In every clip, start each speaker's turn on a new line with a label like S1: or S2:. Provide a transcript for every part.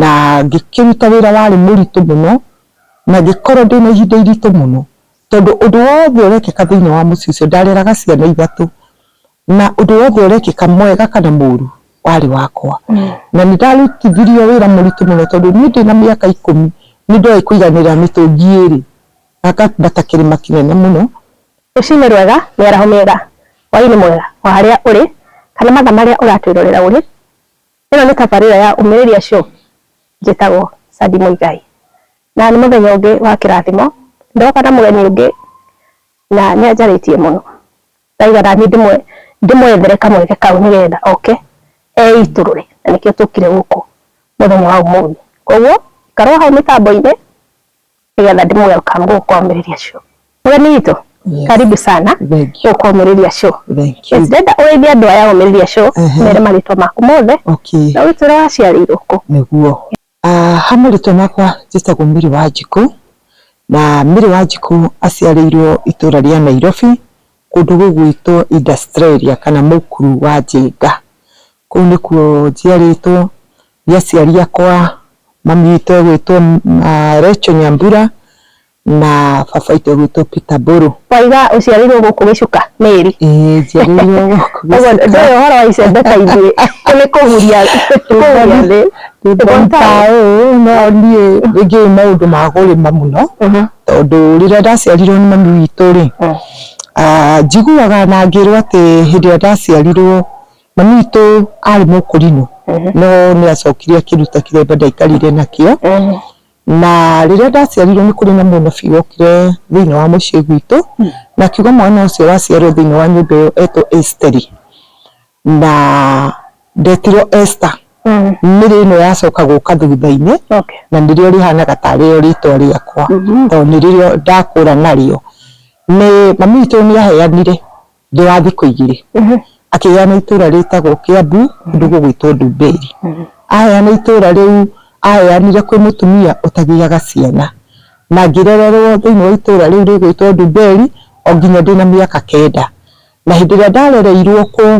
S1: Na ngĩkĩruta wĩra warĩ mũritũ mũno, na ngĩkorwo ndĩ na ihinda iritũ mũno, tondũ ũndũ wothe ũrekĩka thĩinĩ wa mũciĩ ũcio, ndareraga ciana ithatũ, na ũndũ wothe ũrekĩka mwega kana mũru, warĩ wakwa. Na nĩ ndarutithirio wĩra mũritũ mũno tondũ niĩ ndĩ na mĩaka ikũmi, nĩ ndoĩ kũiganĩra mĩtũngi ĩĩrĩ, na ngambata kĩrĩma kĩnene mũno. Rũcinĩ rwega,
S2: mĩaraho mĩega, hwaĩ-inĩ mwega, o harĩa ũrĩ, kana mathaa marĩa ũratwĩrorera ũrĩ. Ĩno nĩ tabarĩra ya Umĩrĩria Show, njĩtagwo Sandy Mũigai, na nĩ mũthenya ũngĩ wa kĩrathimo, ndoka na mũgeni ũngĩ na nĩ anjarĩtie mũno, ndauga naniĩ ndĩmwethere kamweke kau nĩgetha oke eitũrũre, na nĩkĩo tũkire gũkũ mũthenya wa ũmũthĩ, koguo ikara o hau mĩtambo-inĩ. nĩgetha ndĩ welcome gũkũ kwambĩrĩria show mũgeni witũ Yes. karibu sana Thank you. gũkũ kwambĩrĩria show Thank you. ndenda ũrĩithia andũ aya ũmĩrĩria show Ehe. mere marĩtwa maku mothe Okay. na wĩtwĩra waciarĩirwo kũ nĩguo Ah,
S1: ha marĩtwa makwa njĩtagwo mĩrĩ wa njikũ na mĩrĩ wa njikũ aciarĩirwo itũra rĩa nairobi kũndũ gũgwĩtwo industriaria kana mũkuru wa njenga Kũu nĩkuo njiarĩtwo nĩ aciari akwa, mami witũ egwĩtwo Recho Nyambura na baba witũ egwĩtwo Peter Mbũrũ. Waiga ũciarĩirwo
S2: gũkũ gĩcuka Mary? Ĩĩ njiarĩirwo
S1: gũkũ gĩcuka. Ndũĩ ũhoro wa icembe
S2: ta ithuĩ nĩ kũhuria kũhuria thĩ.
S1: No niĩ ndiũĩ maũndũ ma kũrĩma mũno tondũ rĩrĩa ndaciarirwo nĩ mami witũ rĩ, njiguaga na ngĩrwo atĩ hĩndĩ ĩrĩa ndaciarirwo Mami witũ arĩ mũkũrinũ no nĩ acokire akĩruta kĩremba ndaikarire nakĩo na rĩrĩa ndaciarirwo nĩ kũrĩ na mũnabii wokire thĩinĩ wa mũciĩ gwitũ na akiuga mwana ũcio waciarwo thĩinĩ wa nyũmba ĩyo etwo Esteri na ndetirwo Esther nĩrĩo ĩno yacoka gũka thutha-inĩ na nĩrĩo rĩhanaga tarĩ rĩo rĩtwa rĩakwa tondũ nĩrĩo ndakũra narĩo. Mami witũ nĩ aheanire Thutha wa thikũ igĩrĩ akĩheana itũũra rĩtagwo Kĩambu kũndũ gũgwĩtwo Ndumberi. Aheana itũũra rĩu aheanire kwĩ mũtumia ũtagĩaga ciana na ngĩrererwo thĩinĩ wa itũũra rĩu rĩgwĩtwo Ndumberi o nginya ndĩna mĩaka kenda. Na hĩndĩ ĩrĩa ndarereirwo kũu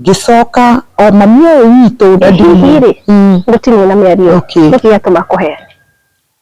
S1: ngĩcoka o mami ũyũ witũ. Hihi rĩ
S2: gũtirĩ na mĩario nĩkĩ yatũma akũheane?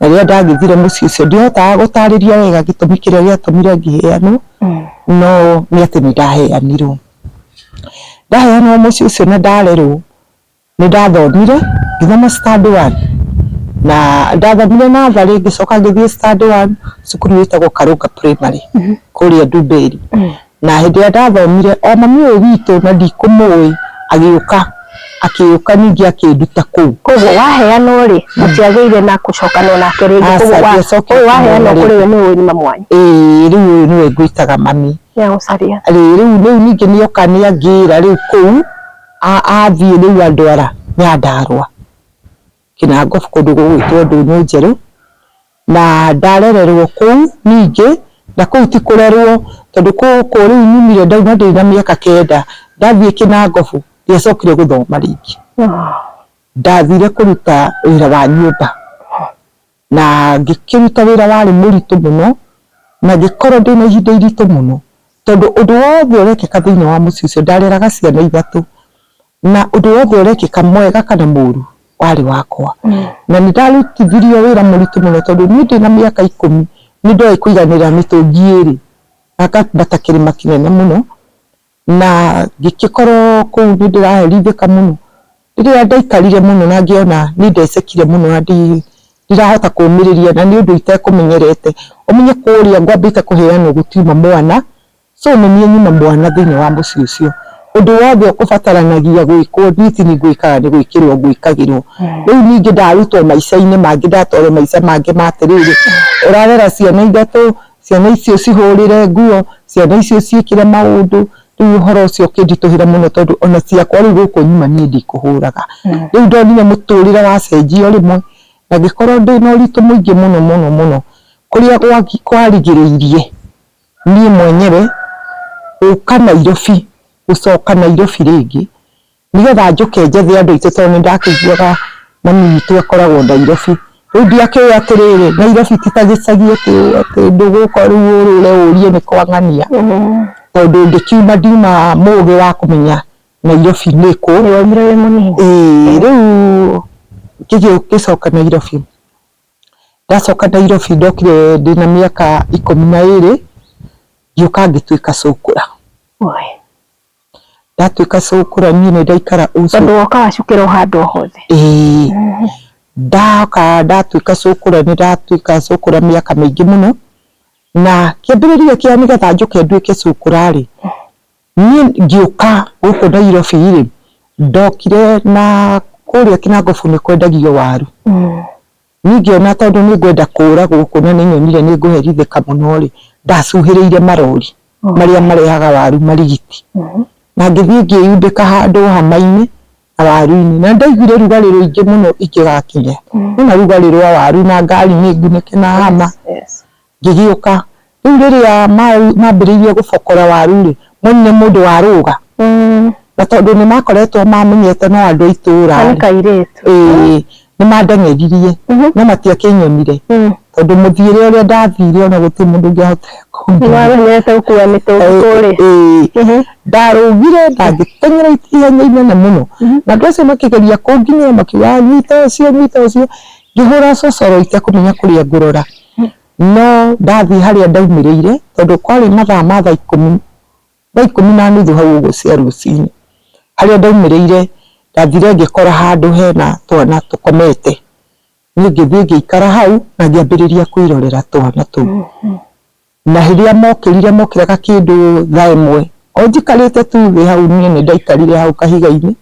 S1: Na rĩrĩa ndagĩthire mũciĩ ũcio ndihotaga gũtarĩria wega gĩtũmi kĩrĩa gĩatũmire ngĩheanwo, no nĩ atĩ nĩ ndaheanirwo. Ndaheanwo mũciĩ ũcio na ndarerwo, nĩ ndathomire ngĩthoma standard one, na ndathomire natharĩ ngĩcoka ngĩthiĩ standard one cukuru ĩtagwo Karũnga Primary kũrĩa Ndumberi. na hĩndĩ ĩrĩa ndathomire o mami ũyũ witũ na ndikũmũĩ agĩũka akĩũka ningĩ akĩnduta kũu. Koguo waheanwo
S2: rĩ mũtiagĩire na gũcokana nake rĩngĩ, Aca, koguo wa- ndiacoketie ũyũ waheanwo ona kũrĩ we nĩ ũyũ nyuma mwanyu Ĩĩ rĩu ũyũ nĩwe
S1: ngwĩtaga mami. nĩ agũcaria.
S2: Rĩu rĩu rĩu ningĩ
S1: nĩ oka nĩ angĩra rĩu kũu a- athiĩ rĩu andwara Nyandarũa. Kinangop kũndũ gũgwĩtwo Ndũnyũ Njerũ, na ndarererwo kũu ningĩ, na kũu ti kũrerwo tondũ kũu rĩu nyumire ndauma ndĩ na mĩaka kenda, ndathiĩ Kinangop ndiacokire gũthoma rĩngĩ, ndathire kũruta wĩra wa nyũmba. Na ngĩkĩruta wĩra warĩ mũritũ mũno, na ngĩkorwo ndĩ na ihinda iritũ mũno, tondũ ũndũ wothe ũrekĩka thĩinĩ wa mũciĩ ũcio, ndareraga ciana ithatũ, na ũndũ wothe ũrekĩka mwega kana mũru, warĩ wakwa. Na nĩ ndarutithirio wĩra mũritũ mũno tondũ niĩ ndĩna mĩaka ikũmi, nĩ ndoĩ kũiganĩra mĩtũngi ĩrĩ, na ngambata kĩrĩma kĩnene mũno. na ngĩgĩkorwo kũu nĩ ndĩraherithĩka mũno. Rĩrĩa ndaikarire mũno na ngĩona nĩ ndecekire mũno na ndirahota kũmĩrĩria na nĩ ũndũ itekũmenyerete, ũmenye kũrĩa ngwambĩte kũheanwo gũtiuma mwana, so nĩ niĩ nyuma mwana thĩinĩ wa mũciĩ ũcio. Ũndũ wothe ũbataranagia gwĩkwo niĩ ti niĩ ngwĩkaga nĩ gwĩkĩrwo ngwĩkagĩrwo. Rĩu ningĩ ndarutwo maica-inĩ mangĩ ndatwarwo maica mangĩ ma atĩrĩrĩ, ũrarera ciana ithatũ, Ciana icio cihũrĩre nguo, ciana icio ciĩkĩre maũndũ, rĩu ũhoro ũcio ũkĩnditũhĩra mũno tondũ ona ciakwa rĩu gũkũ nyuma niĩ ndikũhũraga. Rĩu ndonire mũtũrĩre wacenjia o rĩmwe na ngĩkorwo ndĩna ũritũ mũingĩ mũno mũno mũno kũrĩa kwarigĩrĩirie niĩ mwenyewe gũka Nairobi, gũcoka Nairobi rĩngĩ. nĩgetha njũke njethe andũ aitũ tondũ nĩ ndakĩiguaga mami witũ akoragwo Nairobi. Rĩu ndakĩũĩ atĩrĩ, Nairobi ti ta gĩcagi atĩ ndũgũka rĩu ũrũre ũrie nĩ kwa ng'ania, tondũ ngĩkiuma ndiuma mũgĩ wa kũmenya Nairobi nĩ kũ. Nĩ waumire wĩ mũnini? Ĩĩ. Rĩu ngĩgĩcoka Nairobi, ndacoka Nairobi ndokire ndĩna mĩaka ikũmi na ĩĩrĩ, ngĩũka ngĩtuĩka cũkũra. Ndatuĩka cũkũra niĩ nĩ ndaikara ũcũkũra. Tondũ woka wacukĩra
S2: o handũ o hothe. Ĩĩ. Ndoka
S1: ndatuĩka cũkũra nĩ ndatuĩka cũkũra mĩaka mĩingĩ mũno, na kĩambĩrĩria kĩa nĩgetha njũke nduĩke cũkũra rĩ, niĩ ngĩũka gũkũ Nairobi rĩ, ndokire na kũrĩa Kĩnangobu nĩ kwendagio waru. Niĩ ngĩona tondũ nĩ ngwenda kũũragwo kuona nĩ nyonire nĩ ngũherithĩka mũno-rĩ, ndacuhĩrĩire marori marĩa marehaga waru marigiti. Na ngĩthiĩ ngĩyumbĩka handũ hama-inĩ na waru-inĩ. Na nĩ ndaiguire rugarĩ rũingĩ mũno ingĩgakinya. Nĩ wona rugarĩ rwa waru na ngari nĩ ngunĩke na hama. Ngĩgĩũka. Rĩu rĩrĩa mambĩrĩirie gũbokora waru-rĩ, monire mũndũ warũga, na tondũ nĩmakoretwo mamenyete no andũ a itũra, ĩĩ, nĩmandeng'eririe, no matiakĩnyonire, tondũ mũthiĩre ũrĩa ndathire ona gũtirĩ mũndũ ũngĩahotire kũnyona. Ĩĩ. Ndarũgire na ngĩteng'era ihenya inene mũno, na andũ acio makĩgeria kũnginia makiugaga nyita ũcio, nyita ũcio, Ngĩhũra cocoro itekũmenya kũrĩa ngũrora, no ndathiĩ harĩa ndaumĩrĩire tondũ kwarĩ mathaa ma thaa ikũmi, thaa ikũmi na nuthu hau ũguo cia rũcinĩ. Harĩa ndaumĩrĩire ndathire ngĩkora handũ hena twana tũkomete, niĩ ngĩthiĩ ngĩikara hau na ngĩambĩrĩria kwĩrorera twana tũu. Na rĩrĩa mokĩrire, mokĩraga kĩndũ thaa ĩmwe. O njikarĩte tu thĩ hau niĩ nĩ ndaikarire hau kahiga-inĩ,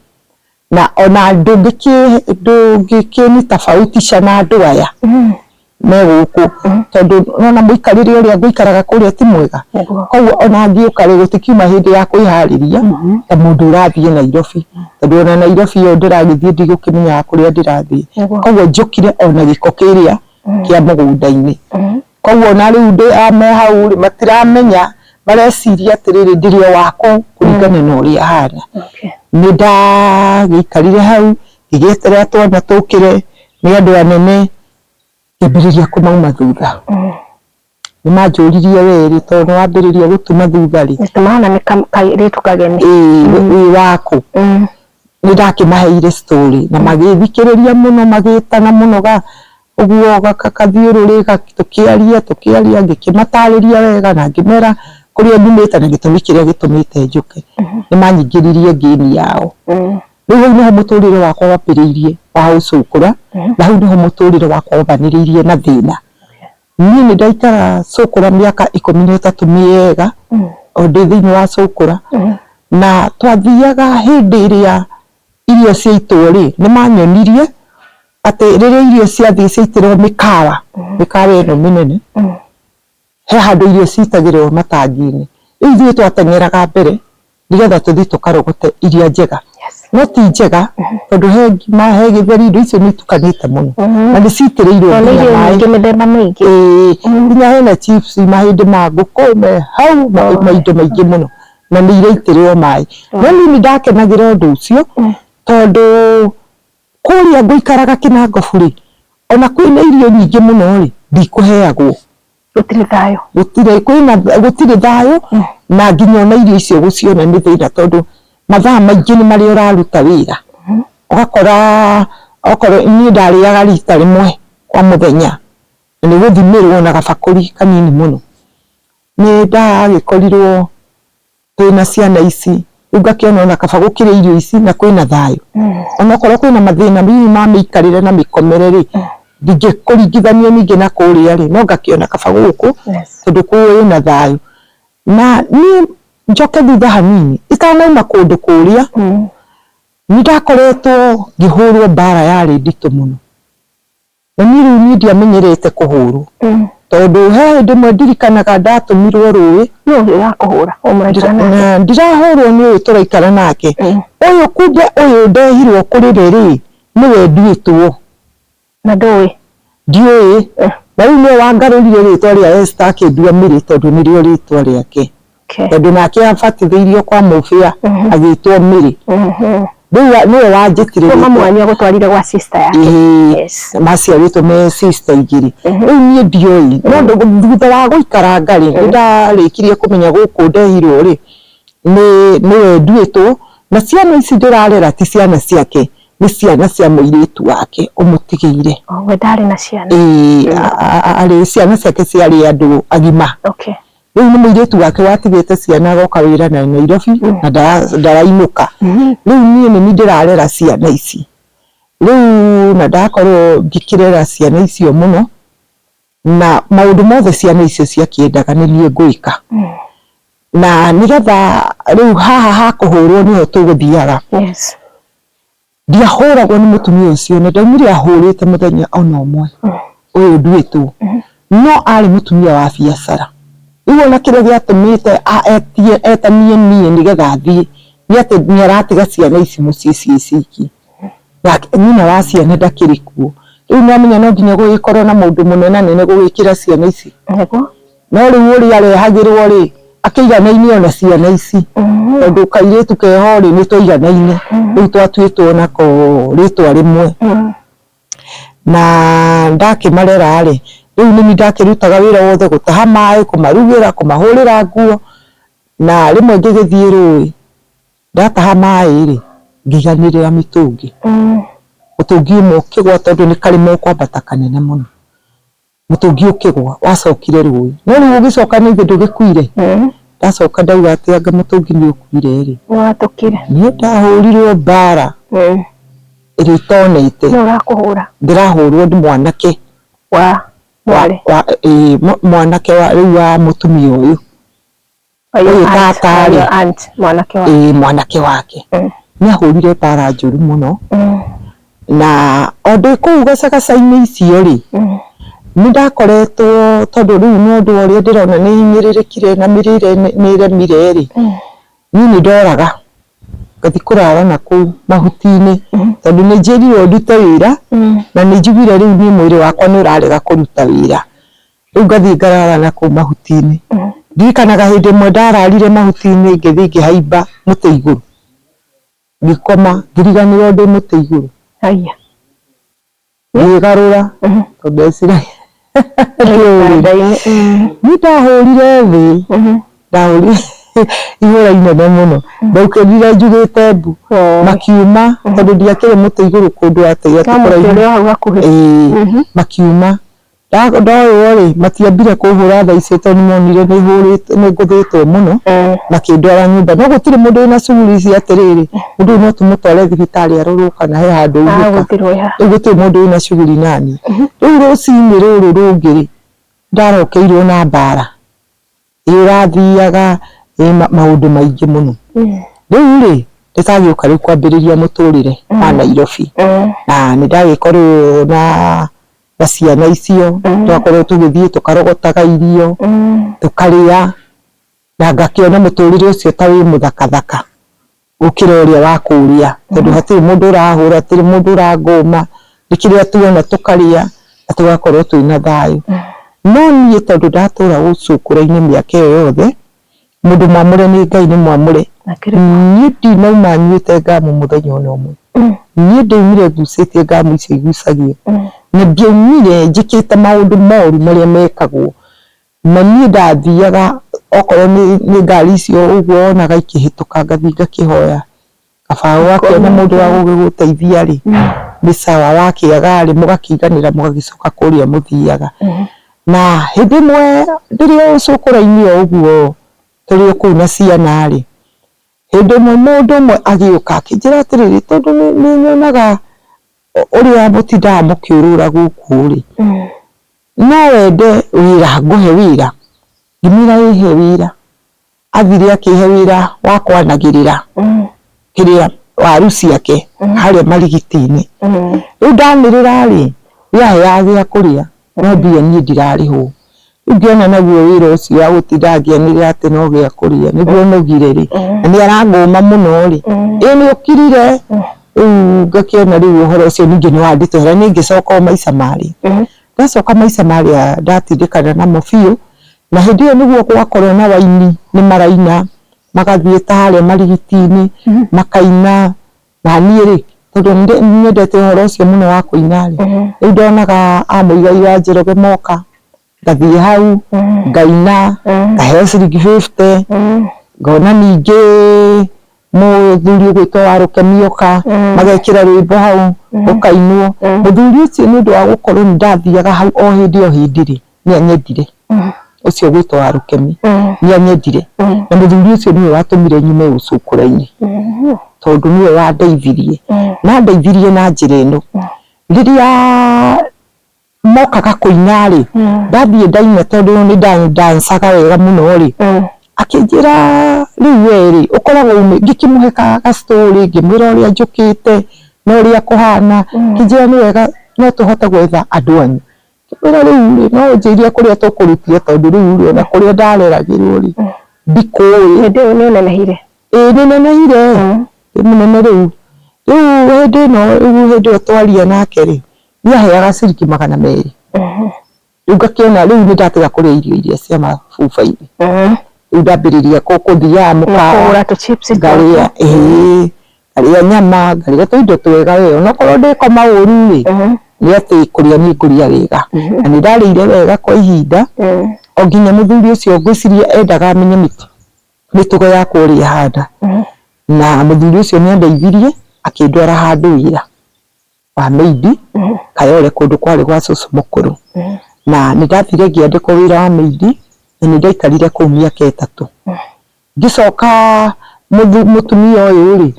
S1: na ona ndũngĩkĩnyita bautisha na andũ aya me gũkũ, tondũ nĩ ũrona mũikarĩre ũrĩa ngũikaraga kũrĩa ti mwega. Kwoguo ona ngĩũka rĩ, gũtikiuma hĩndĩ ya kwĩharĩria ta mũndũ ũrathiĩ Nairobi. Tondũ ona Nairobi ĩyo ndĩragĩthiĩ ndigũkĩmenyaga kũrĩa ndĩrathiĩ. Kwoguo njũkire o na gĩko kĩrĩa kĩa mũgũnda-inĩ. Koguo ona rĩu ndĩ a me hau rĩ, matiramenya, mareciria atĩrĩrĩ ndirĩ o wa kũu kũringana na ũrĩa hana. Okay. Nĩ ndagĩikarire hau, ngĩgĩeterera twana tũkĩre, nĩ andũ anene, ngĩambĩrĩria kũmauma thutha. Nĩ manjũririe we rĩ, tondũ nĩ wambĩrĩria gũtuma thutha rĩ, Mr. Mahana nĩ ka-
S2: kairĩtu kageni. ĩĩ wĩ wa
S1: kũ? Mm. nĩ ndakĩmaheire story na magĩthikĩrĩria mũno magĩtana mũno ga ũguo gathiũrũrĩ tũkĩaria tũkĩaria ngĩkĩmatarĩria wega na ngĩmera kũrĩa nyumĩte na gĩtũmi kĩrĩa gĩtũmĩte njũke. Nĩ manyingĩririe ngĩni yao. Rĩu hau nĩho mũtũrĩre wakwa wambĩrĩirie wa ũcũkũra na hau nĩho mũtũrĩre wakwa wambanĩrĩirie na thĩna. Niĩ nĩ ndaikara Cũkũra mĩaka ikũmi na ĩtatũ mĩega o ndĩ thĩinĩ wa Cũkũra. Na twathiaga hĩndĩ ĩrĩa irio ciaitwo rĩ, nĩ manyonirie atĩ rĩrĩa irio ciathiĩ ciaitĩrwo mĩkawa, mĩkawa ĩno mĩnene, he handũ irio citagĩrĩrwo matangi-inĩ. Rĩu ithuĩ twateng'eraga mbere nĩgetha tũthiĩ tũkarogote iria njega no ti njega tondũ he ngima he gĩtheri indo icio nĩ itukanĩte mũno na nĩ citĩrĩirwo Tondũ nĩ nginya irio maĩ nyingĩ mĩthemba
S2: mĩingĩ. Ĩĩ, nginya hena
S1: chips mahĩndĩ ma ngũkũ me hau ma ma indo maingĩ mũno na nĩ iraitĩrĩrwo maĩ no niĩ nĩ ndakenagĩra ũndũ ũcio tondũ kũrĩa ngũikaraga kĩnangobu rĩ ona kwĩna irio nyingĩ mũno rĩ ndikũheagwo. gũtirĩ thayũ gũtirĩ kwĩna gũtirĩ thayũ na nginya ona irio icio gũciona nĩ thĩna tondũ mathaa maingĩ nĩ marĩa ũraruta wĩra ũgakora okorwo niĩ ndarĩaga rita rĩmwe kwa mũthenya na nĩ gũthimĩrwo na gabakũri kanini mũno nĩ ndagĩkorirwo Twĩna ciana ici rĩu ngakĩona ona kaba gũkĩrĩa irio ici na kwĩna thayũ onokorwo kwĩna mathĩna hihi ma mĩikarĩre na mĩkomere rĩ ndingĩkũringithania ningĩ na kũrĩa rĩ no ngakĩona kaba gũkũ tondũ kwĩna thayũ na niĩ njoke thutha hanini itanauma kũndũ kũrĩa nĩndakoretwo ngĩhũrwo mbara yarĩ nditũ mũno. Na niĩ rĩu niĩ ndiamenyerete kũhũrwo tondũ he hĩndĩ ĩmwe ndirikanaga ndatũmirwo rũĩ. Nũ ũyũ ũrakũhũra ũyũ mũraikara nake? Ndirahũrwo nĩ ũyũ tũraikara nake, ũyũ kumbe ũyũ ndehirwo kũrĩ we rĩ, nĩwe nduĩtwo. Na
S2: ndũĩ? Ndiũĩ,
S1: na rĩu nĩwe wangarũrire rĩtwa rĩa Esther akĩndua Mary tondũ nĩrĩo rĩtwa rĩake. Okay. tondå nake abatithĩirio kwa mũbĩa Mhm. agĩtwo mĩrĩ Mhm. rĩu wa- nĩwe wanjĩtire Kuma mwanya gũtwarire
S2: gwa sister yake. Yes. maciarĩtwo
S1: me sister igĩrĩ Mhm. rĩu niĩ ndioĩ no ndũ- thutha wa gũikaranga rĩ nĩ ndarĩkirie kũmenya gũkũ ndehirwo rĩ nĩ nĩwe nduĩtwo na ciana ici ndĩrarera ti ciana ciake nĩ ciana cia mũirĩtu wake ũmũtigĩire Oh, we ndarĩ na
S2: ciana. Ĩĩ, a- a- a- arĩ
S1: ciana ciake ciarĩ andũ agima Okay. Rĩu nĩ mũirĩtu wake watigĩte ciana agoka wĩra na Nairobi na ndara- ndarainũka rĩu niĩ nĩ niĩ ndĩrarera ciana ici rĩu na ndakorwo ngĩkĩrera ciana icio mũno na maũndũ mothe ciana icio ciakĩendaga nĩ niĩ ngwĩka na nĩgetha rĩu haha ha kũhũrwo nĩho tũgũthiaga Yes. Ndiahũragwo nĩ mũtumia ũcio na ndaumire ahũrĩte mũthenya o na ũmwe ũyũ nduĩtwo, no aarĩ mũtumia wa biacara. Rĩu o na kĩrĩa gĩatũmĩte etie etanie niĩ nĩgetha thiĩ nĩ atĩ nĩ aratiga ciana ici mũciĩ ciĩ ciki, nake nyina wa ciana ndakĩrĩ kuo. Rĩu nĩ wamenya no nginya gũgĩkorwo na mũndũ mũnenanene gũgĩkĩra ciana ici. No rĩu ũrĩa arehagĩrwo-rĩ, akĩiganaine ona ciana ici. Tondũ kairĩtu keho-rĩ, nĩ twaiganaine. Rĩu twatuĩtwo nako rĩtwa rĩmwe. Na ndakĩmarera-rĩ, rĩu nĩ niĩ ndakĩrutaga wĩra wothe, gũtaha maĩ, kũmarugĩra, kũmahũrĩra nguo. Na rĩmwe ngĩgĩthiĩ rũĩ, ndataha maĩ-rĩ, ngĩiganĩrĩra mĩtũngi. Mũtũngi ũmwe ũkĩgwa tondũ nĩ karĩma ũkwambata kanene mũno. Mũtũngi ũkĩgwa wacokire rũĩ no rĩu ũgĩcoka nĩ ithe ndũgĩkuire? Ndacoka ndauga atĩ anga mũtũngi nĩ ũkuire rĩ, niĩ
S2: ndahũrirwo
S1: mbara ĩrĩa itonete, ndĩrahũrwo nĩ mwanake wa, ĩĩ mwanake wa rĩu wa mũtumia ũyũ. Ũyũ tata rĩ, Ũyũ aunt mwanake wake. ĩĩ mwanake wake Mm. nĩ ahũrire bara njũru mũno Mm, na o ndĩ kũu gacagaca-inĩ icio rĩ mm, nĩ ndakoretwo tondũ rĩu ng'ondu o ũrĩa ndĩrona nĩ hinyĩrĩrĩkire na mĩrĩre nĩ- nĩ ĩremire rĩ mm, niĩ nĩ ndoraga ngathi kũrara na kũu mahuti-inĩ Mhm. tondũ nĩ njĩrirwo ndute wĩra mm, na nĩ njiguire rĩu niĩ mwĩrĩ wakwa nĩ ũrarega kũruta wĩra Rĩu ngathiĩ ngarara na kũu mahuti-inĩ. Ndirikanaga hĩndĩ ĩmwe ndararire mahuti-inĩ ngĩthiĩ ngĩhaimba mũtĩ igũrũ, ngĩkoma ngĩriganĩrwo ndĩ mũtĩ igũrũ. Haiya. Ngĩĩgarũra tondũ ndeciragia Niĩ ndahũrire thĩ, ndahũrire ihũra inene mũno. Ndaukĩrire njugĩte mbu, makiuma tondũ ndiakĩrĩ mũtĩ igũrũ kũndũ atĩ atĩ kũraihu. Ĩĩ, makiuma. Ndoywo-rĩ, matiambire kũhũra thaa icio tondũ nĩmonire nĩhũrĩte nĩngũthĩtwo mũno, makĩndwara nyũmba. No gũtirĩ mũndũ wĩna shughuli ici atĩrĩrĩ, mũndũ ũyũ no tũmũtware thibitarĩ arorwo kana he handũ aunĩka. Rĩu gũtirĩ mũndũ wĩna shughuli naniĩ. Rĩu rũcinĩ rũrũ rũngĩ-rĩ, ndarokeirwo na mbara. Ĩrathiaga ĩ maũndũ maingĩ mũno. Rĩu rĩ, ndĩragĩũka rĩu kwambĩrĩria mũtũrĩre wa Nairobi. Na nĩ ndagĩkorwo na na ciana icio, tũgakorwo tũgĩthiĩ tũkarogotaga irio, tũkarĩa, na ngakĩona mũtũrĩre ũcio ta wĩ mũthaka thaka. gũkĩra ũrĩa wa kũrĩa tondũ hatirĩ mũndũ ũrahũra hatirĩ mũndũ ũrangũma nĩ kĩrĩa tuona tũkarĩa na tũgakorwo twĩna thayũ no niĩ tondũ ndatũra gũkũ ũkũrũ-inĩ mĩaka ĩyo yothe mũndũ mwamũre nĩ Ngai nĩ mwamũre niĩ ndinauma nyuĩte ngamu mũthenya ona ũmwe niĩ ndaumire ngucĩtie ngamu icio igucagio na ndiaumire njĩkĩte maũndũ moru marĩa mekagwo. Na niĩ ndathiaga okorwo nĩ nĩ ngari icio ũguo wonaga ikĩhĩtũka ngathi ngakĩhoya kabaũ ũgakĩona mũndũ wa gũgĩgũteithia rĩ nĩ sawa wakĩaga rĩ mũgakĩiganĩra mũgagĩcoka kũrĩa mũthiaga. Na hĩndĩ ĩmwe ndĩrĩ o cũkũ raini o ũguo tũrĩ o kũu na ciana rĩ, hĩndĩ ĩmwe mũndũ ũmwe agĩũka akĩnjĩra atĩrĩrĩ tondũ nĩ nĩnyonaga ũrĩa mũtindaga mũkĩũrũra gũkũ rĩ. No wende wĩra ngũhe wĩra? Ngĩmwĩra ĩ he wĩra. Athire akĩhe wĩra wa kwanagĩrĩra kĩrĩa, waru ciake harĩa marigiti-inĩ. Rĩu ndanĩrĩra rĩ, we aheaga gĩa kũrĩa no mbia niĩ ndirarĩhwo. Rĩu ngĩona naguo wĩra ũcio wa gũtinda ngĩanĩrĩra atĩ no gĩa kũrĩa nĩguo nogire rĩ, na nĩ arangũma mũno rĩ, ĩ nĩ ũkirire? Rĩu ngakĩona rĩu ũhoro ũcio ningĩ nĩ wanditũhĩra nĩ ngĩcoka o maica marĩa. Ndacoka maica marĩa ndatindĩkana namo biũ, na hĩndĩ ĩyo nĩguo gwakorwo na raini nĩ maraina magathiĩ ta harĩa marigiti-inĩ makaina, na niĩ rĩ tondũ nĩ nyendete ũhoro ũcio mũno wa kũina rĩ, rĩu ndonaga a mũigai wa Njoroge moka, Ngathiĩ hau ngaina ngaheo ciringi fifty ngona ningĩ mũthuri ũgwĩtwo wa rũkeni oka magekĩra rwĩmbo hau rũkainwo. Mũthuri ũcio nĩ ũndũ wa gũkorwo nĩ ndathiaga hau o hĩndĩ o hĩndĩ rĩ nĩ anyendire ũcio ũgwĩtwo wa rũkeni nĩ anyendire na mũthuri ũcio nĩwe watũmire nyume ũcũkũrainĩ tondũ nĩwe wandeithirie. Na andeithirie na njĩra ĩno rĩrĩa mokaga kũina rĩ ndathiĩ ndaina tondũ nĩ ndancaga wega mũno rĩ akĩnjĩra rĩu we rĩ ũkoragwo umĩ ngĩkĩmũhe ka ga story ngĩmwĩra ũrĩa njũkĩte na ũrĩa kũhana akĩnjĩra nĩ wega no tũhote gwetha andũ anyu ngĩmwĩra rĩu rĩ no ũnjĩrie kũrĩa tũkũrutire tondũ rĩu rĩ ona kũrĩa ndareragĩrwo rĩ ndikũĩ hĩndĩ ĩyo nĩ ũnenehire ĩĩ nĩ nenehire ndĩ mũnene rĩu rĩu hĩndĩ ĩno rĩu hĩndĩ ĩyo twaria nake rĩ nĩaheaga ciriki magana merĩ Mhm. rĩu ngakĩona rĩu nĩndatiga kũrĩa irio iria cia mabuba-inĩ Mhm. rĩu ndambĩrĩria kũ- kũthiaga mũkawa Kũgũra tũ chips ngarĩa
S2: twaku.
S1: ĩĩ ngarĩa nyama ngarĩa tũindo twega we onokorwo ndĩkoma ũru rĩ Mhm. nĩ atĩ kũrĩa nĩ ngũrĩa wega na nĩ ndarĩire wega kwa ihinda Mhm. o nginya mũthuri ũcio ngwĩciria endaga amenye mĩtu- mĩtugo yakwa ũrĩa ĩhana Mhm. na mũthuri ũcio nĩ andeithirie akĩndwara handũ wĩra wa maid Kayole kũndũ kwarĩ gwa cũcũ mũkũrũ. Na nĩ ndathire ngĩandĩkwo wĩra wa maid na nĩ ndaikarire kũu mĩaka ĩtatũ. Ngĩcoka mũtumia ũyũ rĩ,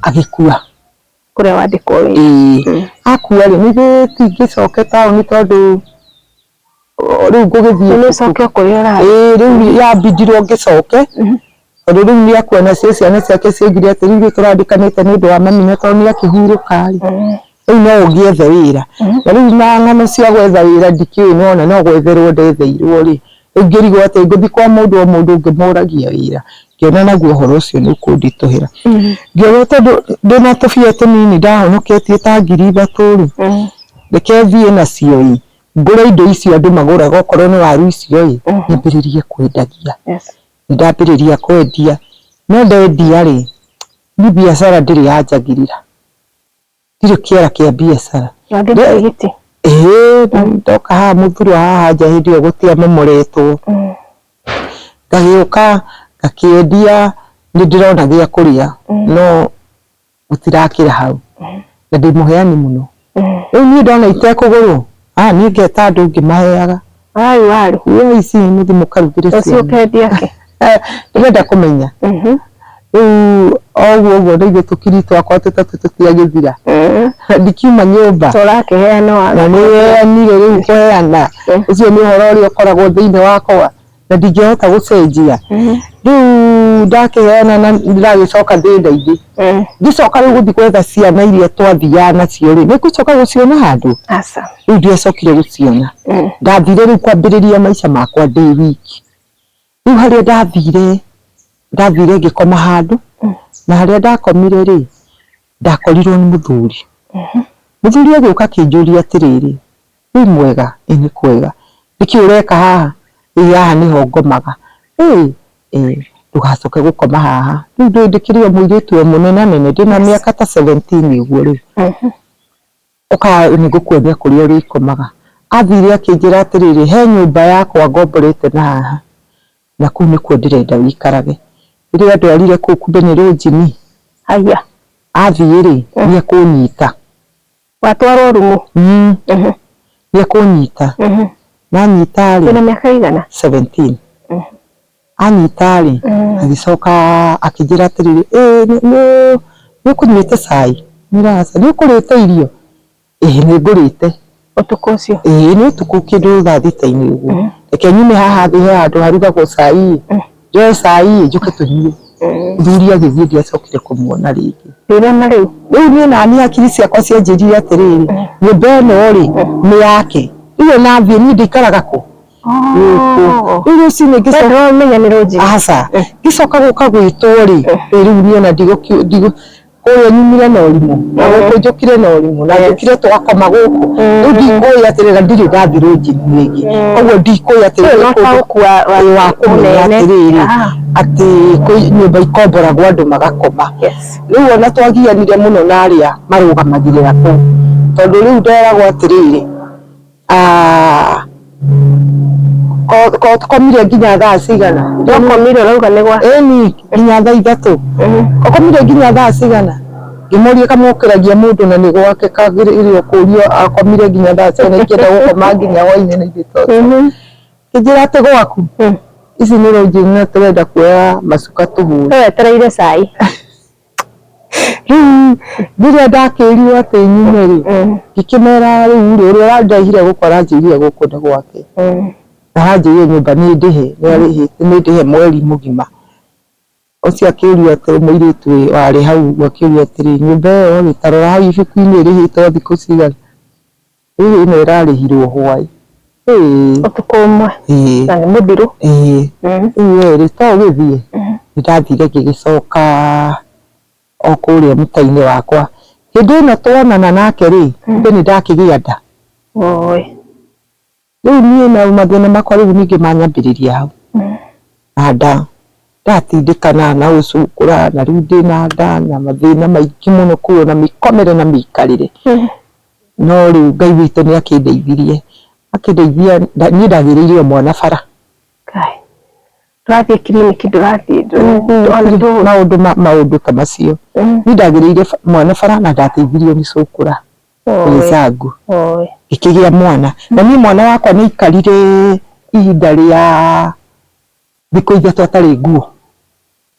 S1: agĩkua. Ũrĩa
S2: wandĩkwo wĩra? Ĩĩ.
S1: Akua rĩ, nĩ ithuĩ tũingĩcokete taũni tondũ rĩu ngũgĩthiĩ nĩ coke kũrĩa
S2: ũrarĩ ĩĩ rĩu yambindirwo
S1: ngĩcoke mhm. tondũ rĩu nĩ akuona cio ciana ciake ciaugire atĩ rĩu tũrandĩkanĩte nĩ ũndũ wa mami na tondũ nĩ akĩhurũka rĩ mhm. rĩu no ũgĩethe wĩra mhm. na rĩu na ng'ano cia gwetha wĩra ndikĩũĩ nona no gwetherwo ndetheirwo rĩ rĩu ngĩrigwo atĩ ngũthiĩ kwa mũndũ o mũndũ ngĩmũragia wĩra ngĩona naguo ũhoro ũcio nĩ ũkũnditũhĩra ngĩona tondũ ndĩna tũbia tũnini ndahonoketie ta ngiri ithatũ rĩ reke thiĩ nacio ii ngũre indo icio andũ magũraga okorwo nĩ waru icio-ĩ, nyambĩrĩrie kwendagia. Nĩndambĩrĩria kwendia, no ndendia-rĩ, niĩ mbiacara ndĩrĩ yanjagĩrĩra, ndirĩ kĩara kĩa mbiacara.
S2: Ĩĩ,
S1: ndoka haha mũthurwa haha nja hĩndĩ ĩyo gũtĩ amomoretwo, ngagĩũka ngakĩendia nĩndĩrona gĩa kũrĩa no. gũtirakĩra hau na ndĩ mũheani mũno rĩu niĩ ndona itekũgũrwo aya niĩ ngeta andũ ngĩmaheaga waru waru
S2: iria ici mũthi
S1: mũkarugĩre ũcio ciana ũkendia
S2: kĩ Eh, ndĩrenda
S1: kũmenya Mhm. rĩu oguo ũguo nĩ ithuĩ tũkiri twakwa tũtatũ tũtiagĩthira Mhm. ndikiuma nyũmba tũrakĩheana na waru
S2: nĩ weanire
S1: rĩu kũheana ũcio nĩ ũhoro ũrĩa ũkoragwo thĩinĩ wakwa na ndingĩhota gũcenjia rĩu ndakĩheana na ndagĩcoka ndĩ ndaingĩ ngĩcoka rĩu gũthiĩ gwetha ciana iria twathiaga nacio rĩ nĩngũcoka gũciona handũ aca rĩu ndiacokire gũciona ndathire rĩu kwambĩrĩria maica makwa ndĩ wiki rĩu harĩa ndathire ndathire ngĩkoma handũ na harĩa ndakomire rĩ Ndakorirwo nĩ mũthuri. Mũthuri agĩũka akĩnjũria atĩrĩrĩ, Wĩ mwega? Ĩ nĩ kwega. Nĩkĩ ũreka haha? Ĩ haha nĩho ngomaga. Ĩ! Ĩ! Ndũgacoke gũkoma haha. Rĩu ndũĩ ndĩkĩrĩ o mũirĩtu o mũnenanene, ndĩ na mĩaka ta seventeen ũguo rĩ, ũka nĩ ngũkuonia kũrĩa ũrĩkomaga. Athire akĩnjĩra atĩrĩrĩ, he nyũmba yakwa ngomborete na haha. Na kũu nĩkuo ndĩrenda ũikarage. Rĩrĩa ndwarire kũu kumbe nĩ rũnjini. Haiya.
S2: Athiĩ rĩ,
S1: nĩ ekũnyita. Watwarwo
S2: rumu? Mmh. Nĩ ekũnyita.
S1: Na anyita rĩ. Wĩna mĩaka ĩigana?
S2: Seventeen.
S1: Anyita rĩ, agĩcoka akĩnjĩra atĩrĩrĩ, ĩ nĩ ũkũnyuĩte cai? Ngĩmwĩra aca. Nĩ ũkũrĩte irio? Ĩĩ nĩ ngũrĩte. Ũtukũ ũcio?
S2: Ĩĩ nĩ ũtukũ kĩndũ
S1: thaa thita-inĩ ũguo. Mm. Reke nyume haha thĩ he handũ harugagwo cai ĩ. Mm. Njoe cai ĩ njũke tũnyue. Mm. Mũthuri agĩthiĩ ndiacokire kũmuona rĩngĩ. Ndĩrona rĩu.
S2: Rĩu niĩ nani hakiri
S1: ciakwa cianjĩrire atĩrĩrĩ, mm. nyũmba ĩno rĩ mm. nĩ yake. Rĩu ona thiĩ niĩ ndĩikaraga kũ? Oh. Rĩu rũcinĩ ngĩcoka. Aca. Ngĩcoka gũka
S2: gwitũ
S1: rĩ,
S2: rĩu
S1: niĩ ona ndigũ kũrĩa nyumire na ũrimũ na gũkũ njũkire na ũrimũ na njũkire twakoma gũkũ rĩu ndikũĩ atĩrĩ na ndirĩ ndathirwo njini rĩngĩ koguo ndikũĩ atĩrĩ Ũyũ nĩ no kũndũ taũku wa- wa- ũyũ wa kũmenya mũnene. atĩrĩrĩ Ah. atĩ kwĩ nyũmba ikomboragwo andũ magakoma Yes. rĩu ona twagianire mũno na arĩa marũgamagĩrĩra kũu tondũ rĩu nderagwo atĩrĩrĩ Ah, ko- ko- tũkomire nginya thaa cigana Nĩũkomire ũrauga nĩ
S2: gwa. ĩni nginya thaa
S1: ithatũ ũkomire nginya thaa cigana ngĩmũria kamũkĩragia mũndũ na nĩ gwake kagĩrĩirwo kũrio akomire nginya thaa cigana ingĩenda gũkoma nginya hwainĩ na ithuĩ tondũ Mhm. kĩnjĩra atĩ gwaku Mm. ici nĩ rũnjini na tũrenda kuoya macuka tũhũre Wetereire cai. rĩrĩa ndakĩrirwo atĩ nyume rĩ ngĩkĩmera rĩu rĩ ũrĩa ũrandaihire gũkũ aranjĩrire gũkũ nĩ gwake na aranjĩrire nyũmba nĩ ndĩhe nĩ ndĩhe mweri mũgima ũcio akĩũrio atĩrĩ mũirĩtu ũyũ warĩ hau ũguo akĩũrio atĩrĩ nyũmba ĩyo rĩ tarora hau ibuku-inĩ ĩrĩhĩtwo thikũ cigana Ĩĩ ĩno ĩrarĩhirwo hwaĩ. Ĩĩ. Ũtukũ
S2: ũmwe. Ĩĩ. Na nĩ mũthiru. Ĩĩ. Ĩĩ
S1: rĩ, to gĩthiĩ? Nĩ ndathire ngĩgĩcoka o kũrĩa mũta-inĩ wakwa. Hĩndĩ ĩno tuonana nake rĩ, kumbe nĩ ndakĩgĩa nda. Woi. Rĩu niĩ na mathĩna makwa rĩu ningĩ manyambĩrĩria hau. Na nda, ndatindĩkana na gũcũngũra na rĩu ndĩna nda na mathĩna maingĩ mũno kuo na mĩkomere na mĩikarĩre. No rĩu Ngai witũ nĩ akĩndeithirie, akĩndeithia niĩ ndagĩrĩire o mwana bara. Ngai. Ndũrathiĩ
S2: kiriniki ndũrathiĩ maũndũ maũndũ
S1: ta macio. Mm. Niĩ ndagĩrĩire mwana bara na ndateithirio nĩ cũkũra wĩcangu ngĩkĩgĩa mwana na niĩ mwana wakwa nĩ aikarire ihinda rĩa thikũ ithatũ atarĩ nguo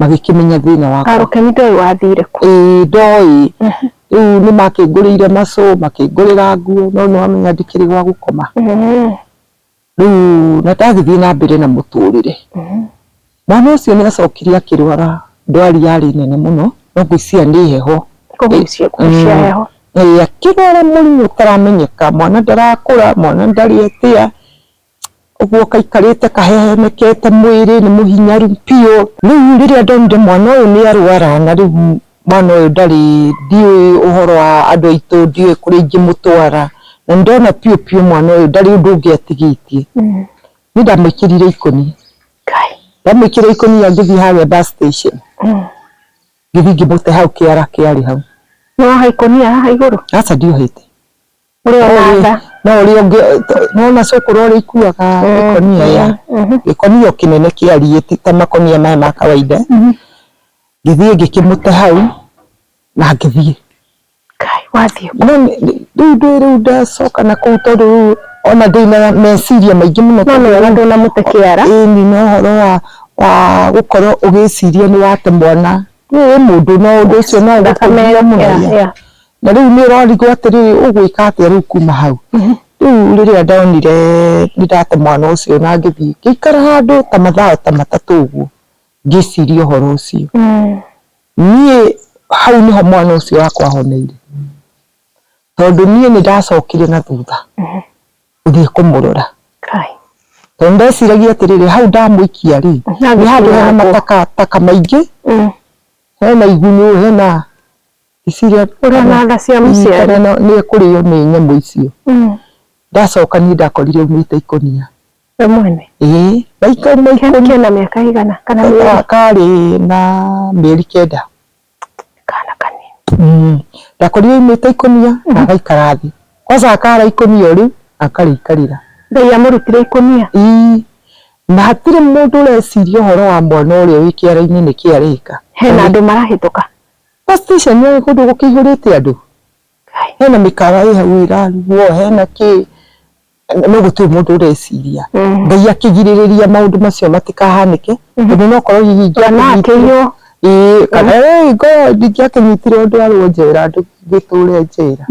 S1: magĩkĩmenya thĩna wakwa. Karũke nĩ ndoĩ wathire
S2: kũ. Ĩĩ ndoĩ.
S1: Rĩu nĩ makĩngũrĩire macũ, makĩngũrĩra nguo no nĩ wamenya ndikĩrĩ gwa gũkoma. Rĩu na ndagĩthiĩ na mbere na mũtũrĩre. Mwana ũcio nĩ acokire akĩrwara ndwari yarĩ nene mũno no ngwĩciria nĩ heho. Kũgucia kũgucia
S2: heho. Ĩĩ akĩrwara
S1: mũrimũ ũtaramenyeka, mwana ndarakũra, mwana ndarĩ atĩa. ũguo kaikarĩte kahehemekete mwĩrĩ nĩ mũhinyaru biũ. Rĩu rĩrĩa ndonire mwana ũyũ nĩ arwara na rĩu mwana ũyũ ndarĩ ndiũĩ ũhoro wa andũ aitũ ndiũĩ kũrĩa ingĩmũtwara na nĩ ndona biũ biũ mwana ũyũ ndarĩ ũndũ ũngĩ atigĩtie. Niĩ ndamũĩkĩrire ikũnia, ndamũĩkĩrire ikũnia ngĩthiĩ harĩa bus station ngĩthiĩ ngĩmũte hau kĩara kĩarĩ hau. Nĩ woha ikũnia
S2: haha igũrũ? Aca ndiohete.
S1: no ũrĩ ũngĩ nona cũkũrũ ũrĩa ikuaga gĩkonia ya gĩkonia kĩnene kĩariĩ ti ta makonia maya ma kawaida ngĩthiĩ ngĩkĩmũte hau na ngĩthiĩ
S2: rĩu
S1: ndĩ rĩu ndacoka na kũu tondũ rĩu ona ndĩ na meciria maingĩ mũno nona ndũnamũte
S2: kĩara ĩni no ũhoro wa
S1: wa gũkorwo ũgĩciria nĩ wate mwana nĩ mũndũ no ũndũ ũcio no thakame mũno Na rĩu nĩ ũrorigwo atĩrĩrĩ ũgwĩka atĩa rĩu kuma hau. Rĩu rĩrĩa ndonire nĩ ndate mwana ũcio na ngĩthiĩ ngĩikara handũ ta mathaa ta matatũ ũguo ngĩciria ũhoro ũcio. Niĩ hau nĩho mwana ũcio wakwa ahoneire tondũ niĩ nĩ ndacokire na thutha gũthiĩ kũmũrora. Tondũ nĩ ndeciragia atĩrĩrĩ hau ndamũikia rĩ nĩ handũ hena matakataka maingĩ, hena igunyũ, hena ici iria ũrananga cia
S2: mũciari no nĩ kũrĩo nĩ
S1: nyamũ icio ndacoka niĩ ndakorire aumĩte ikũnia we mwene
S2: ĩĩ na ikauma
S1: ikũnia kena mĩaka ĩigana kana
S2: mĩeri karĩ na
S1: mĩeri kenda kana
S2: kanini ndakorire aumĩte
S1: ikũnia na agaikara thĩ kwanza akara ikũnia o rĩu na akarĩikarĩra Ngai amũrutire
S2: ikũnia ĩĩ
S1: na hatirĩ mũndũ ũreciria ũhoro wa mwana ũrĩa wĩ kĩara-inĩ nĩkĩ areka hena andũ marahĩtũka.
S2: Gas station
S1: ĩĩ kũndũ gũkĩihũrĩte andũ, hena mĩkawa ĩĩ hau ĩrarugwo, hena kĩ, no gũtirĩ mũndũ ũreciria. Ngai akĩgirĩrĩria maũndũ macio matikahanĩke, tondũ no korwo hihi ingĩakĩnyitire,
S2: ĩĩ kana
S1: ĩĩ ngorwo ndingĩakĩnyitire ndwarwo njera ndĩtũre njera.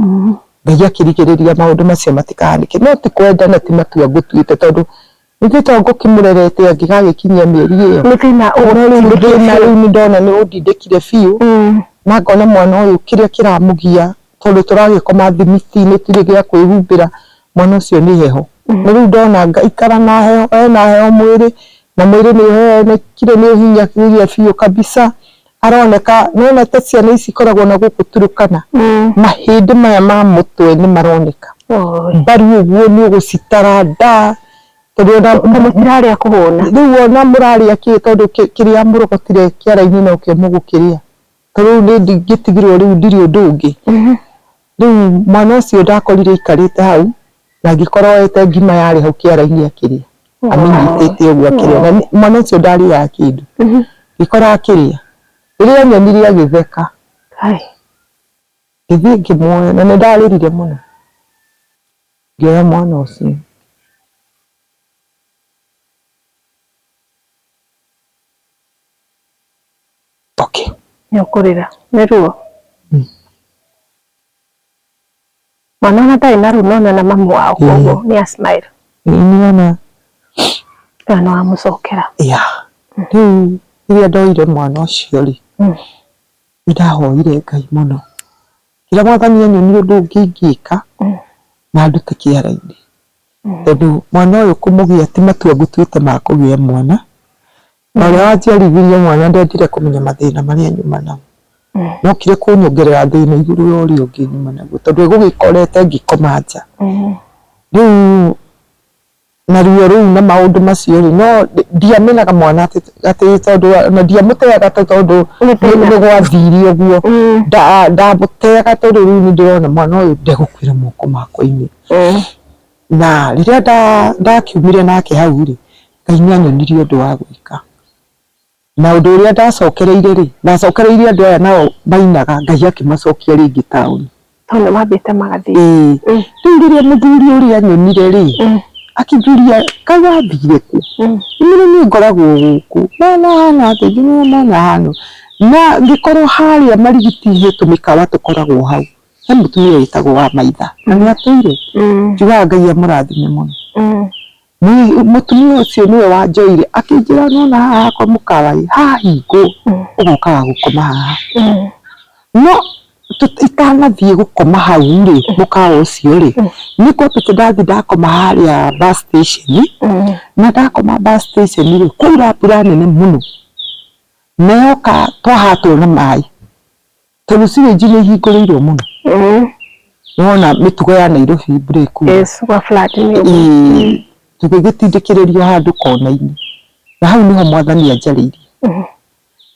S1: Ngai akĩrigĩrĩria maũndũ macio matikahanĩke, no ti kwenda na ti matua ngũtuĩte tondũ Ningĩ to ngũkĩmũrerete angĩgagĩkinyia mĩeri ĩyo. Nĩ thĩna ũgũtindĩkĩte. No rĩu thĩna rĩu nĩ ndona nĩ ũndindĩkire biũ, na ngona mwana ũyũ kĩrĩa kĩramũgia tondũ tũragĩkoma thimiti-inĩ tũtirĩ gĩa kwĩhumbĩra, mwana ũcio nĩ heho. Na rĩu ndona ngaikara na heho, ena heho mwĩrĩ, na mwĩrĩ nĩ ũhehenekire nĩ ũhinyĩrĩirie biũ kabisa. Aroneka nĩwonete ciana ici ikoragwo na gũkũ Turukana mahĩndĩ maya ma mũtwe nĩ maroneka mbaru ũguo nĩ ũgũcitara nda tondũ ona tondũ cirarĩa kũhũna rĩu ona mũrarĩa kĩĩ tondũ kĩrĩa mũrogotire kĩara-inĩ nokĩo mũgũkĩrĩa ta rĩu nĩ ingĩtigirwo rĩu ndirĩ ũndũ ũngĩ. Rĩu mwana ũcio ndakorire aikarĩte hau, na angĩkorwo oete ngima yarĩ hau kĩara-inĩ akĩrĩa, amĩnyitĩte ũguo akĩrĩa, na mwana ũcio ndarĩaga kĩndũ, ngĩkora akĩrĩa, rĩrĩa anyonire agĩtheka, ngĩthiĩ ngĩmuoya, na nĩ ndarĩrire mũno, ngĩoya mwana ũcio. Okay. Nĩ ũkũrĩra. Nĩ ruo? Mm. Mwana ona ndarĩ na ruo nona na mamu wao mm. koguo nĩ a smile. Nĩona. Kana no amũcokera. Ya. Mm. Rĩu rĩrĩa ndoire mwana ũcio rĩ, mm. nĩndahoire Ngai mũno. Kĩrĩa mwathani anyonie ũndũ ũngĩ ingĩka na ndute kĩara-inĩ. Tondũ mwana ũyũ kũmũgĩa ti matua ngũtuĩte ma kũgĩa mwana, Na ũrĩa wanjiarithirie mwana ndendire kũmenya mathĩna marĩa nyuma namo. Mm. Nokire kũnyongerera thĩna igũrũ ya ũrĩa ũngĩ nyuma naguo tondũ egũgĩkorete ngĩkoma nja. Mm. Rĩu na ruo rũu na maũndũ macio rĩ no ndiamenaga mwana atĩ atĩ tondũ na ndiamũteaga atĩ tondũ Nĩ thĩna. nĩ gwathire ũguo Mm. Nda- ndamũteaga tondũ rĩu nĩ ndĩrona mwana ũyũ ndegũkuĩra moko makwa-inĩ Mm. na rĩrĩa nda- ndakiumire nake hau rĩ Ngai nĩ aanyonirie ũndũ wa gwĩka. Na ũndũ ũrĩa ndacokereire rĩ, ndacokereirie andũ aya nao mainaga, Ngai akĩmacokia rĩngĩ taũni. Tondũ nĩ mambĩte magathiĩ. Ĩĩ. Rĩu rĩrĩa mũthuri ũrĩa aanyonire rĩ, akĩnjũria, Kaĩ wathire kũ? Nĩ niĩ ngoragwo gũkũ. Mwana ahaana atĩa? Ngĩmwĩra, Mwana ahaana ũũ. Na ngĩkorwo harĩa Marigiti he tũmĩkawa tũkoragwo hau, he mũtumia wĩtagwo Wamaitha, na nĩ atũire. Njugaga Ngai amũrathime mũno. Nĩ- mũtumia ũcio nĩwe wanjoire akĩnjĩra nona haha hakwa mũkawa-ĩ hahingwo ũgokaga gũkoma haha no tũ- itanathiĩ gũkoma hau-rĩ mũkawa ũcio-rĩ nĩkwambĩte ndathiĩ ndakoma harĩa bus station na ndakoma bus station-rĩ kwaura mbura nene mũno na yoka twahatwo nĩ maĩ Tondũ syringe nĩ ihingũrĩirwo mũno. Mm. Nĩwona mĩtugo ya Nairobi break. Yes, kwa flat nĩ ũguo. Ĩĩ, tũgĩgĩtindĩkĩrĩrio handũ kona-inĩ. Na hau nĩho mwathani anjarĩirie. Mhm.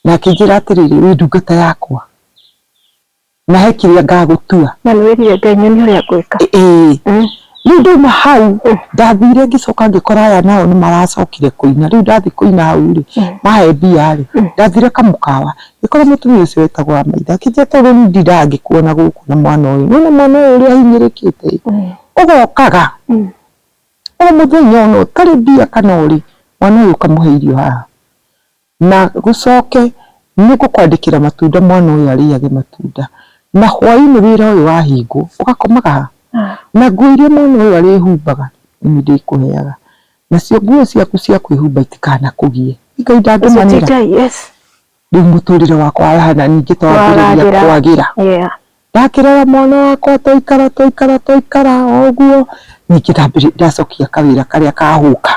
S1: Na akĩnjĩra atĩrĩrĩ, wĩ ndungata yakwa. Na he kĩrĩa ngagũtua. Na nĩ wĩrire Ngai nyonie ũrĩa ngwĩka. Ĩĩ. Mm. Rĩu ndauma hau, ndathire ngĩcoka ngĩkora aya nao nĩ maracokire kũina. Rĩu ndathiĩ kũina hau-rĩ, mahe mbia-rĩ, ndathire kamũkawa, Ngĩkora mũtumia ũcio wĩtagwo Amaitha akĩnjĩra atĩrĩ, rĩu ndirangĩkuona gũkũ na mwana ũyũ. Nĩwona mwana ũyũ ũrĩa ahinyĩrĩkĩte ĩĩ, ũgokaga o mũthenya o na ũtarĩ mbia kana ũrĩ, mwana ũyũ ũkamũhe irio haha. Na gũcoke nĩ ngũkwandĩkĩra matunda mwana ũyũ arĩage matunda. Na hwaĩ-inĩ wĩra ũyũ wahingwo, ũgakomaga haha. Na nguo iria mwana ũyũ arĩhumbaga nĩ niĩ ndĩkũheaga. Nacio nguo ciaku cia kwĩhumba itikanakũgie. Ngai ndangĩmanĩra. Yes. Rĩu mũtũrĩre wakwa wahana ningĩ ta wambĩrĩria kwagĩra. Yeah. Ndakĩrora mwana wakwa twaikara twaikara twaikara o ũguo ningĩ ndambĩrĩria ndacokia kawĩra karĩa ka hũka.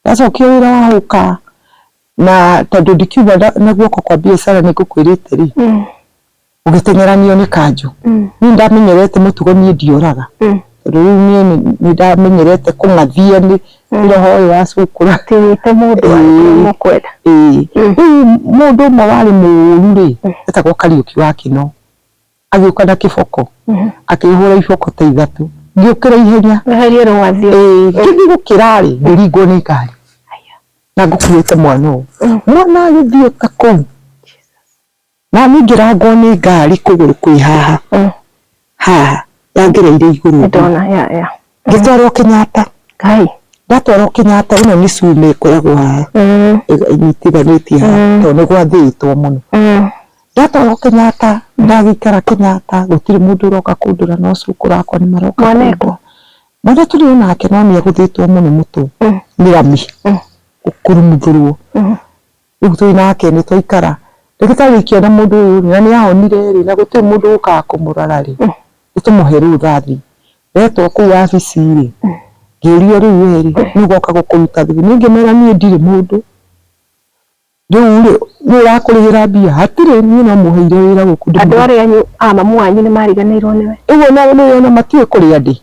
S1: Ndacokia wĩra wa hũka na tondũ ndikiuma na guoko kwa biacara nĩ ngũkwĩrĩte rĩ, mm. ũgĩteng'eranio nĩ kanjũ mm. niĩ ndamenyerete mũtugo niĩ ndiũraga mm. tondũ rĩu niĩ nĩ ndamenyerete kũng'athia nĩ mm. roho ũyũ wa cukura tiwĩte mũndũ mũkwenda rĩu mũndũ ũmwe warĩ mũũru rĩ etagwo kariũki wa kĩno agĩũka na kĩboko mm-hmm. akĩhũra iboko ta ithatũ ngĩũkĩra ihenya ngĩthiĩ gũkĩra rĩ ngĩringwo nĩ ngari na ngũkuĩte mwana ũũ mm. mwana agĩthiĩ ta kũu Nani ngĩrangwo nĩ ngari kũgũrũ kwĩ haha mm. haha yangereire igũrũ ndona ya ya ngĩtwarwo mm. Kenyatta kai ndatwarwo Kenyatta ĩno nĩ cuma ĩkoragwo haha mm. ĩnyitithanĩtie haha mm. tondũ nĩ gwathĩĩtwo mũno ndatwarwo Kenyatta ndagĩikara Kenyatta gũtirĩ mũndũ ũroka kũndora no cũkũ rakwa nĩ maroka mwanekwa
S2: mwana tũrĩ
S1: onake no nĩ agũthĩĩtwo mũno mũtwe nĩ rami gũkurumuthũrwo Rĩu twĩ nake nĩ twaikara. Ndagĩtarĩ ikĩona mũndũ ũyũ rĩ, na nĩ ahonire rĩ, na gũtirĩ mũndũ ũkaga kũmũrora rĩ, nĩ tũmũhe rĩu thathi. Ndetwo kũu wabici rĩ, ngĩũrio rĩu we rĩ, nũũ ũgoka gũkũruta thigũkũ? Niĩ ngĩmera niĩ ndirĩ mũndũ. Rĩu rĩ, nũũ ũrakũrĩhĩra mbia? Hatirĩ, niĩ no mũheire wĩra gũkũ. Andũ arĩa anyu a
S2: mamu wanyu nĩ mariganĩirwo nĩwe. Rĩu ona nĩ ũrona
S1: matiũĩ kũrĩa ndĩ.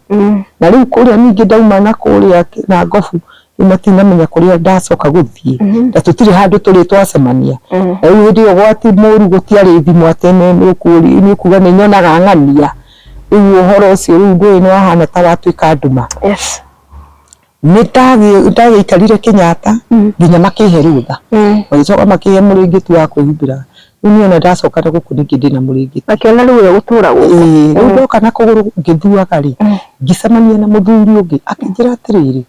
S1: Na rĩu kũrĩa ningĩ ndauma na kũrĩa na Ngobu, matinamenya kũrĩa ndacoka gũthiĩ mhm. na tũtirĩ handũ tũrĩ twacemania mhm. na rĩu hĩndĩ ĩyo gwati mũru gũtiarĩ thimũ atĩ nĩ kuga nĩ nyonaga ng'ania rĩu ũhoro ũcio rĩu ndũĩ nĩ wahana ta watuĩka nduma
S2: nĩ
S1: ndagĩikarire Kenyatta mhm. nginya makĩhe rũtha magĩcoka makĩhe mũrĩngĩti wa kwĩhumbĩra Rĩu niĩ ona ndacoka na gũkũ ningĩ ndĩna mũrĩngĩti. Akĩona rĩu ũyũ gũtũra
S2: gũkũ. Ĩĩ, rĩu ndoka na kũgũrũ
S1: ngĩthuaga rĩ, ngĩcemania na mũthuri ũngĩ akĩnjĩra atĩrĩrĩ,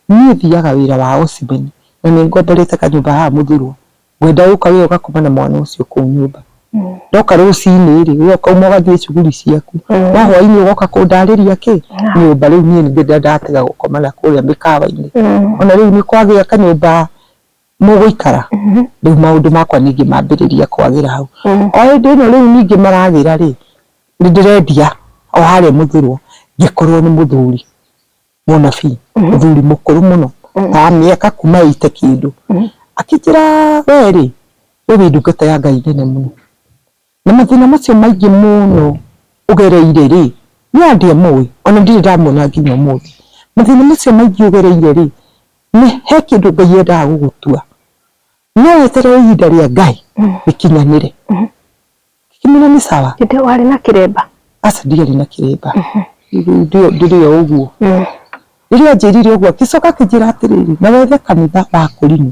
S1: niĩ thiaga wĩra wa ũcimeni na nĩ ngomborete kanyũmba haha mũthurwa, ngwenda gũka wee ũgakoma na mwana ũcio kũu nyũmba. Ndoka rũcinĩ rĩ, wee ũkauma ũgathiĩ cuguri ciaku, no hwainĩ ũgoka kũndarĩria kĩ? Nyũmba. Rĩu niĩ ningĩ ndatiga gũkoma na kũrĩa mĩkawa-inĩ. Ona rĩu nĩ kwagĩa kanyũmba. mũgũikara rĩu maũndũ makwa ningĩ mambĩrĩria kwagĩra hau mm. o hĩndĩ ĩno rĩu ningĩ maragĩra rĩ nĩ ndĩrendia o harĩa mũthurwo ngĩkorwo nĩ mũthuri mũnabii mm-hmm. mũthuri mũkũrũ mũno mm. ta mĩaka kuma ite kĩndũ mm. akĩnjĩra we rĩ we wĩ ndungata ya ngai nene mũno Na mathĩna macio maingĩ mũno ũgereire-rĩ, niĩ ona ndiamũĩ, ona ndirĩ ndamuona nginya ũmũthĩ. Mathĩna macio maingĩ ũgereire-rĩ, he kĩndũ Ngai endaga gũgũtua. No weterere ihinda rĩa Ngai rĩkinyanĩre. Ngĩkĩmwĩra nĩ sawa. Hĩndĩ ĩyo warĩ na kĩremba?
S2: Aca ndiarĩ na
S1: kĩremba. Ndĩrĩ o ũguo. Rĩrĩa anjĩrire ũguo, agĩcoka akĩnjĩra atĩrĩrĩ, na wethe kanitha wakũrinũ.